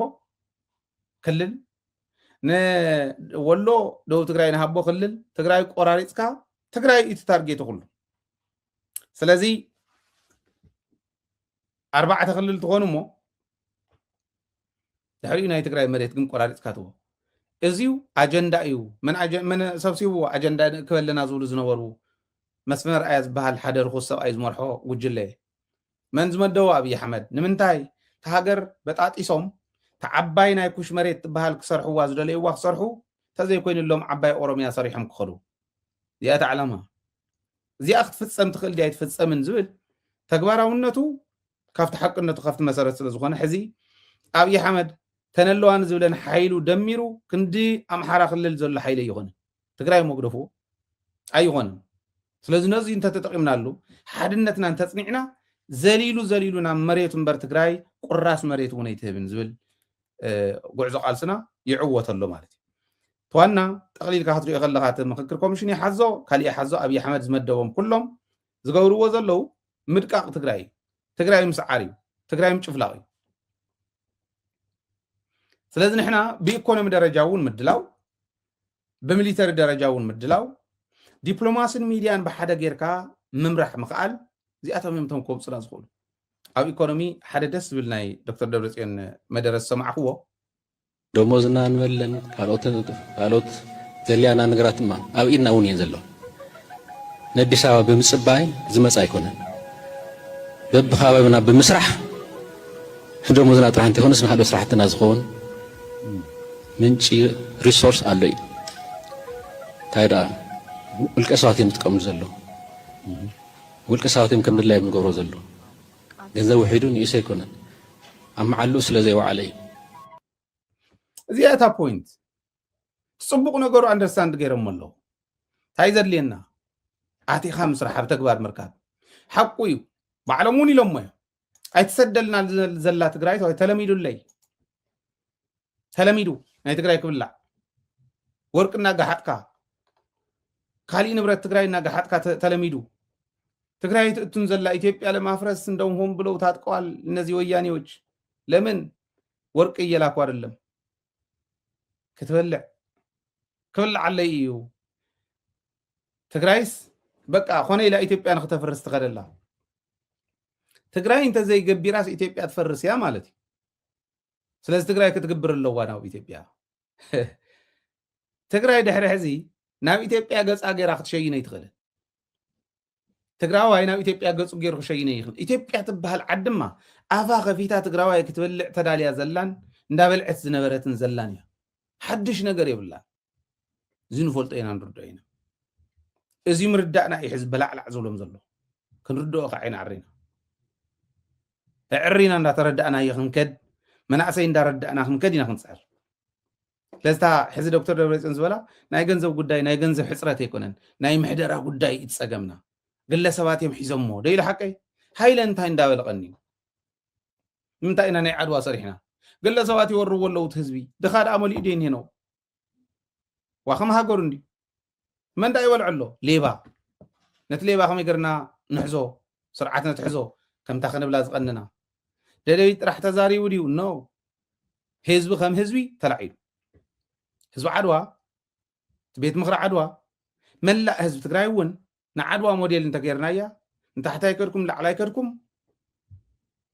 ክልል ንወሎ ደቡብ ትግራይ ንሃቦ ክልል ትግራይ ቆራሪፅካ ትግራይ እቲ ታርጌቱ ኩሉ ስለዚ ኣርባዕተ ክልል ትኾኑ እሞ ድሕሪኡ ናይ ትግራይ መሬት ግን ቆራሪፅካ ትቦ እዚዩ ኣጀንዳ እዩ መን ሰብሲብዎ ኣጀንዳ ክበለና ዝብሉ ዝነበሩ መስመር ኣያ ዝበሃል ሓደ ርኩስ ሰብኣይ ዝመርሖ ጉጅለ መን ዝመደቦ ኣብዪ ኣሕመድ ንምንታይ እቲ ሃገር በጣጢሶም እቲ ዓባይ ናይ ኩሽ መሬት ትበሃል ክሰርሕዋ ዝደለይዋ ክሰርሑ እንተዘይኮይኑሎም ዓባይ ኦሮምያ ሰሪሖም ክኸዱ እዚኣ እታ ዕላማ እዚኣ ክትፍፀም ትኽእል ድያ ኣይትፍፀምን ዝብል ተግባራውነቱ ካብቲ ሓቅነቱ ካብቲ መሰረት ስለ ዝኾነ ሕዚ ኣብዪ ኣሕመድ ተነለዋ ንዝብለን ሓይሉ ደሚሩ ክንዲ ኣምሓራ ክልል ዘሎ ሓይሊ ኣይኾነ ትግራይ መጉደፉ ኣይኾነን ስለዚ ነዚ እንተተጠቂምናሉ ሓድነትና እንተፅኒዕና ዘሊሉ ዘሊሉ ናብ መሬት እምበር ትግራይ ቁራስ መሬት እውን ኣይትህብን ዝብል ጉዕዞ ቃልስና ይዕወት ኣሎ ማለት እዩ። እቲ ዋና ጠቕሊልካ ክትሪኦ ከለኻ እቲ ምኽክር ኮሚሽን ይሓዞ ካሊእ ይሓዞ ኣብይ ኣሕመድ ዝመደቦም ኩሎም ዝገብርዎ ዘለዉ ምድቃቕ ትግራይ እዩ። ትግራይ ምስዓር እዩ። ትግራይ ምጭፍላቕ እዩ። ስለዚ ንሕና ብኢኮኖሚ ደረጃ እውን ምድላው ብሚሊተሪ ደረጃ እውን ምድላው፣ ዲፕሎማስን ሚድያን ብሓደ ጌርካ ምምራሕ ምኽኣል እዚኣቶም እዮም እቶም ከውፅና ዝኽእሉ። ኣብ ኢኮኖሚ ሓደ ደስ ዝብል ናይ ዶክተር ደብረፅዮን መደረ ዝሰማዕኽዎ ደሞዝና ንበለን ካልኦት ዘድልያና ነገራትማ ኣብ ኢድና እውን እየን ዘለዋ። ነዲስ ኣበባ ብምጽባይ ዝመጽ ኣይኮነን በብካባቢና ብምስራሕ ንደሞዝና ጥራሕ እንተይኮነስ ንካልኦት ስራሕትና ዝኸውን ምንጪ ሪሶርስ ኣሎ እዩ እንታይ ደኣ ውልቀ ሰባት እዮም ዝጥቀምሉ ዘለዉ ውልቀ ሰባት እዮም ከም ድላይ እዮም ዝገብሮ ዘለዉ ገንዘብ ውሒዱ ንእሰ ኣይኮነን ኣብ መዓልኡ ስለ ዘይወዓለ እዩ እዚኣ እታ ፖይንት እቲ ጽቡቕ ነገሩ ኣንደርስታንድ ገይሮሞ ኣለዉ እንታይ ዘድልየና ኣቲኻ ምስራሕ ኣብ ተግባር ምርካብ ሓቁ እዩ ባዕሎም እውን ኢሎሞ እዮም ኣይትሰደልና ዘላ ትግራይ ተባሂሉ ተለሚዱለይ ተለሚዱ ናይ ትግራይ ክብላዕ ወርቂ እናጋሓጥካ ካሊእ ንብረት ትግራይ እናጋሓጥካ ተለሚዱ ትግራይ ትእቱን ዘላ ኢትዮጵያ ለማፍረስ እንደውም ሆን ብለው ታጥቀዋል እነዚህ ወያኔዎች ለምን ወርቅ እየላኩ አይደለም ክትበልዕ ክብልዓለይ እዩ ትግራይስ በቃ ኮነ ኢላ ኢትዮጵያ ንክተፍርስ ትኸደላ ትግራይ እንተዘይገቢራስ ኢትዮጵያ ትፈርስ እያ ማለት እዩ ስለዚ ትግራይ ክትግብር ኣለዋ ናብ ኢትዮጵያ ትግራይ ድሕሪ ሕዚ ናብ ኢትዮጵያ ገፃ ገይራ ክትሸይን ኣይትኽእልን ትግራዋይ ናብ ኢትዮጵያ ገፁ ገይሩ ክሸይነ ይኽእል ኢትዮጵያ ትበሃል ዓድማ ኣፋ ከፊታ ትግራዋይ ክትበልዕ ተዳልያ ዘላን እንዳበልዐት ዝነበረትን ዘላን እያ ሓድሽ ነገር የብላን እዚ ንፈልጦ ኢና ንርድኦ ኢና እዚ ምርዳእና እዩ ሕዚ በላዕላዕ ዝብሎም ዘሎ ክንርድኦ ከዓ ኢና ዕሪና እዕሪና እንዳተረዳእናዮ ክንከድ መናእሰይ እንዳረዳእና ክንከድ ኢና ክንፅዕር ስለዚ ሕዚ ዶክተር ደብረፅዮን ዝበላ ናይ ገንዘብ ጉዳይ ናይ ገንዘብ ሕፅረት ኣይኮነን ናይ ምሕደራ ጉዳይ እዩ ፀገምና ግለሰባት እዮም ሒዞሞ ዶ ኢሉ ሓቀይ ሃይለ እንታይ እንዳበልቐኒ እዩ ንምንታይ ኢና ናይ ዓድዋ ሰሪሕና ግለሰባት ይወርዎ ኣለዉ እቲ ህዝቢ ድኻ ደኣ መሊኡ ዶ ይንሄ ነው ዋኸም ሃገሩ እንድዩ መን ዳኣ ይበልዖ ኣሎ ሌባ ነቲ ሌባ ከመይ ገርና ንሕዞ ስርዓት ነትሕዞ ከምታ ክንብላ ዝቀንና ደደቢት ጥራሕ ተዛሪቡ ድዩ ኖ ህዝቢ ከም ህዝቢ ተላዒሉ ህዝቢ ዓድዋ ቤት ምክሪ ዓድዋ መላእ ህዝቢ ትግራይ እውን ንዓድዋ ሞዴል እንተገይርናያ ንታሕታይ ከድኩም ላዕላይ ከድኩም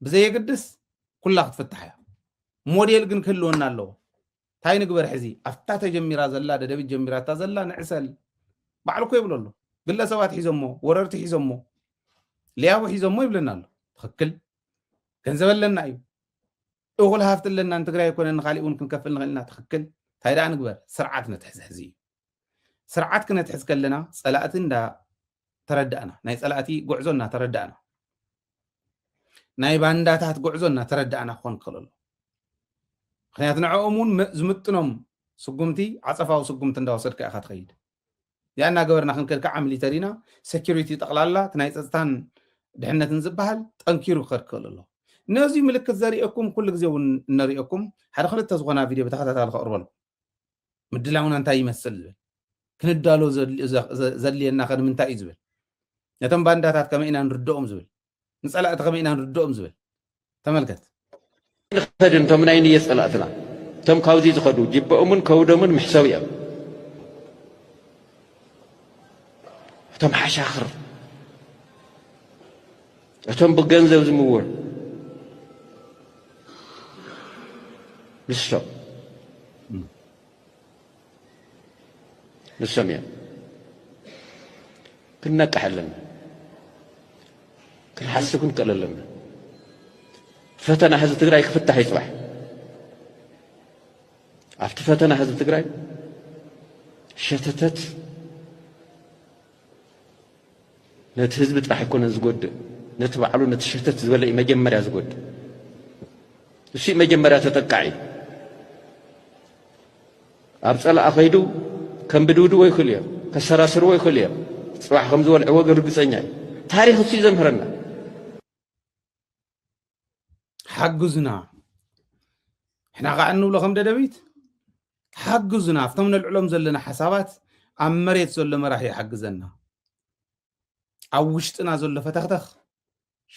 ብዘየግድስ ኩላ ክትፍታሕ እያ ሞዴል ግን ክህልወና ኣለዎ እንታይ ንግበር ሕዚ ኣብታ ተጀሚራ ዘላ ደደቢት ጀሚራታ ዘላ ንዕሰል ባዕሉ እኮ ይብሎ ኣሎ ግለሰባት ሒዞሞ ወረርቲ ሒዞሞ ሊያቡ ሒዞሞ ይብለና ኣሎ ትክክል ገንዘብ ኣለና እዩ እኹል ሃፍቲ ኣለና ንትግራይ ኮነ ንካሊእ እውን ክንከፍል ንኽእል ኢና ትክክል እንታይ ደኣ ንግበር ስርዓት ነትሕዚ ሕዚ እዩ ስርዓት ክነትሕዝ ከለና ጸላእቲ እንዳ ተረዳእና ናይ ጸላእቲ ጉዕዞ እና ተረዳእና ናይ ባንዳታት ጉዕዞ እና ተረዳእና ክኾን ክኽእል ኣሎ ምክንያቱ ንዕኦም እውን ዝምጥኖም ስጉምቲ ዓፀፋዊ ስጉምቲ እንዳወሰድካ ኢኻ ትኸይድ እዚኣ እናገበርና ክንከድ ከዓ ሚሊተሪና ሴኪሪቲ ጠቕላላ እቲ ናይ ፀፅታን ድሕነትን ዝበሃል ጠንኪሩ ክኸድ ክኽእል ኣሎ ነዚ ምልክት ዘርእየኩም ኩሉ ግዜ እውን እነርእየኩም ሓደ ክልተ ዝኾና ቪድዮ ብተኸታታሊ ከቕርበልኩም ምድላውና እንታይ ይመስል ዝብል ክንዳሎ ዘድልየና ከ ንምንታይ እዩ ዝብል ነቶም ባንዳታት ከመይ ኢና ንርድኦም ዝብል ንፀላእቲ ከመይ ኢና ንርድኦም ዝብል ተመልከት ንኸድን እቶም ናይ ንየ ፀላእትና እቶም ካብዚ ዝኸዱ ጅበኦምን ከውዶምን ምሕሰብ እዮም እቶም ሓሻኽር እቶም ብገንዘብ ዝምወሉ ንሶም ንሶም እዮም ክንነቅሕ ኣለና ክንሓስብ ክንክእል ኣለና ፈተና ህዝቢ ትግራይ ክፍታሕ እዩ ፅባሕ ኣብቲ ፈተና ህዝቢ ትግራይ ሸተተት ነቲ ህዝቢ ጥራሕ ኣይኮነን ዝጎድእ፣ ነቲ ባዕሉ ነቲ ሸተት ዝበለ እዩ መጀመርያ ዝጎድእ። እሱ እዩ መጀመርያ ተጠቃዒ። ኣብ ጸላእ ከይዱ ከምብድብድዎ ይኽእሉ እዮም፣ ከሰራስርዎ ይኽእሉ እዮም። ጽባሕ ከም ዝወልዕዎ ግን ርግጸኛ እዩ። ታሪኽ እሱ እዩ ዘምህረና። ሓግዙና ሕና ከዓ እንብሎ ከም ደደቢት ሓግዙና ኣብቶም ነልዕሎም ዘለና ሓሳባት ኣብ መሬት ዘሎ መራሒ ይሓግዘና ኣብ ውሽጥና ዘሎ ፈተኽተኽ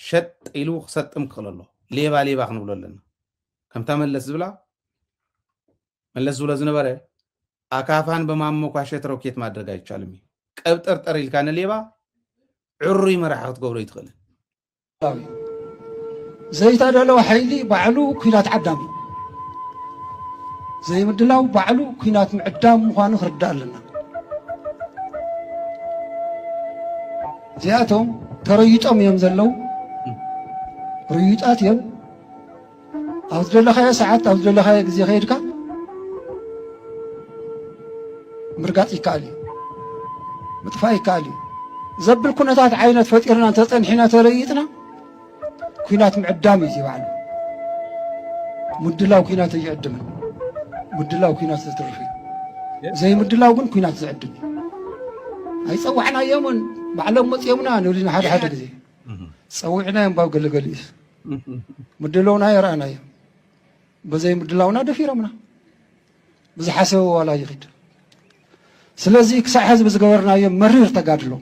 ሸጥ ኢሉ ክሰጥም ክኽእል ኣሎ ሌባ ሌባ ክንብሎ ኣለና ከምታ መለስ ዝብላ መለስ ዝብሎ ዝነበረ ኣካፋን በማሞኳሸት ሮኬት ማድረግ ኣይቻልም እዩ ቀብጠርጠር ኢልካ ንሌባ ዕሩይ መራሒ ክትገብሮ ይትኽእልን ዘይተደለወ ሓይሊ ባዕሉ ኩናት ዓዳም እዩ ዘይምድላው ባዕሉ ኩናት ምዕዳም ምዃኑ ክርዳእ ኣለና እዚኣቶም ተረይጦም እዮም ዘለው ርዩጣት እዮም ኣብ ዝደለኻዮ ሰዓት ኣብ ዝደለኻዮ ግዜ ከይድካ ምርጋፅ ይከኣል እዩ ምጥፋእ ይከኣል እዩ ዘብል ኩነታት ዓይነት ፈጢርና እንተፀንሒና ተለይጥና ኩናት ምዕዳም እዩ ባዕሉ ምድላው ኩናት እይዕድምን ምድላው ኩናት ዘትርፍ እዩ ዘይምድላው ግን ኩናት ዝዕድም እዩ ኣይፀዋዕናዮምን ባዕሎም መፅኦምና ንብልና ሓደ ሓደ ግዜ ፀዊዕናዮም ባብ ገለገሊኡስ ምድለውና የረኣናዮ በዘይ ምድላውና ደፊሮምና ብዝሓሰበ ዋላ ይኽድ ስለዚ ክሳዕ ሕዚ ብዝገበርናዮ መሪር ተጋድሎ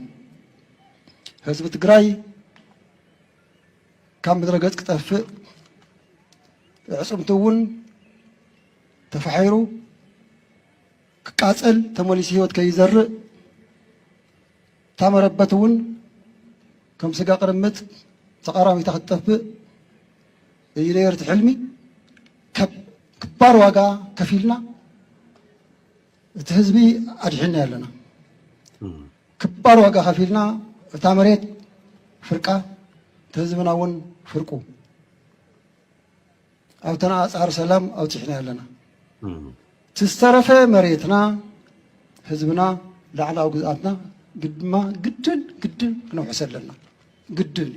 ህዝቢ ትግራይ ካብ ምድረ ገፅ ክጠፍእ ዕፅምቲ እውን ተፋሒሩ ክቃፀል ተመሊሱ ህይወት ከይዘርእ እታ መረበት እውን ከም ስጋ ቅርምት ተቃራሚታ ክትጠፍእ እዩ ነይሩ እቲ ሕልሚ። ከባድ ዋጋ ከፊልና እቲ ህዝቢ ኣድሒና ኣለና። ክባር ዋጋ ከፊልና እታ መሬት ፍርቃ እቲ ህዝብና እውን ፍርቁ ኣብተን ኣፃር ሰላም ኣውፂሕናዮ ኣለና። እቲ ዝተረፈ መሬትና፣ ህዝብና፣ ላዕላዊ ግዝኣትና ግድማ ግድን ግድን ክነውሕሰ ኣለና። ግድን እዩ።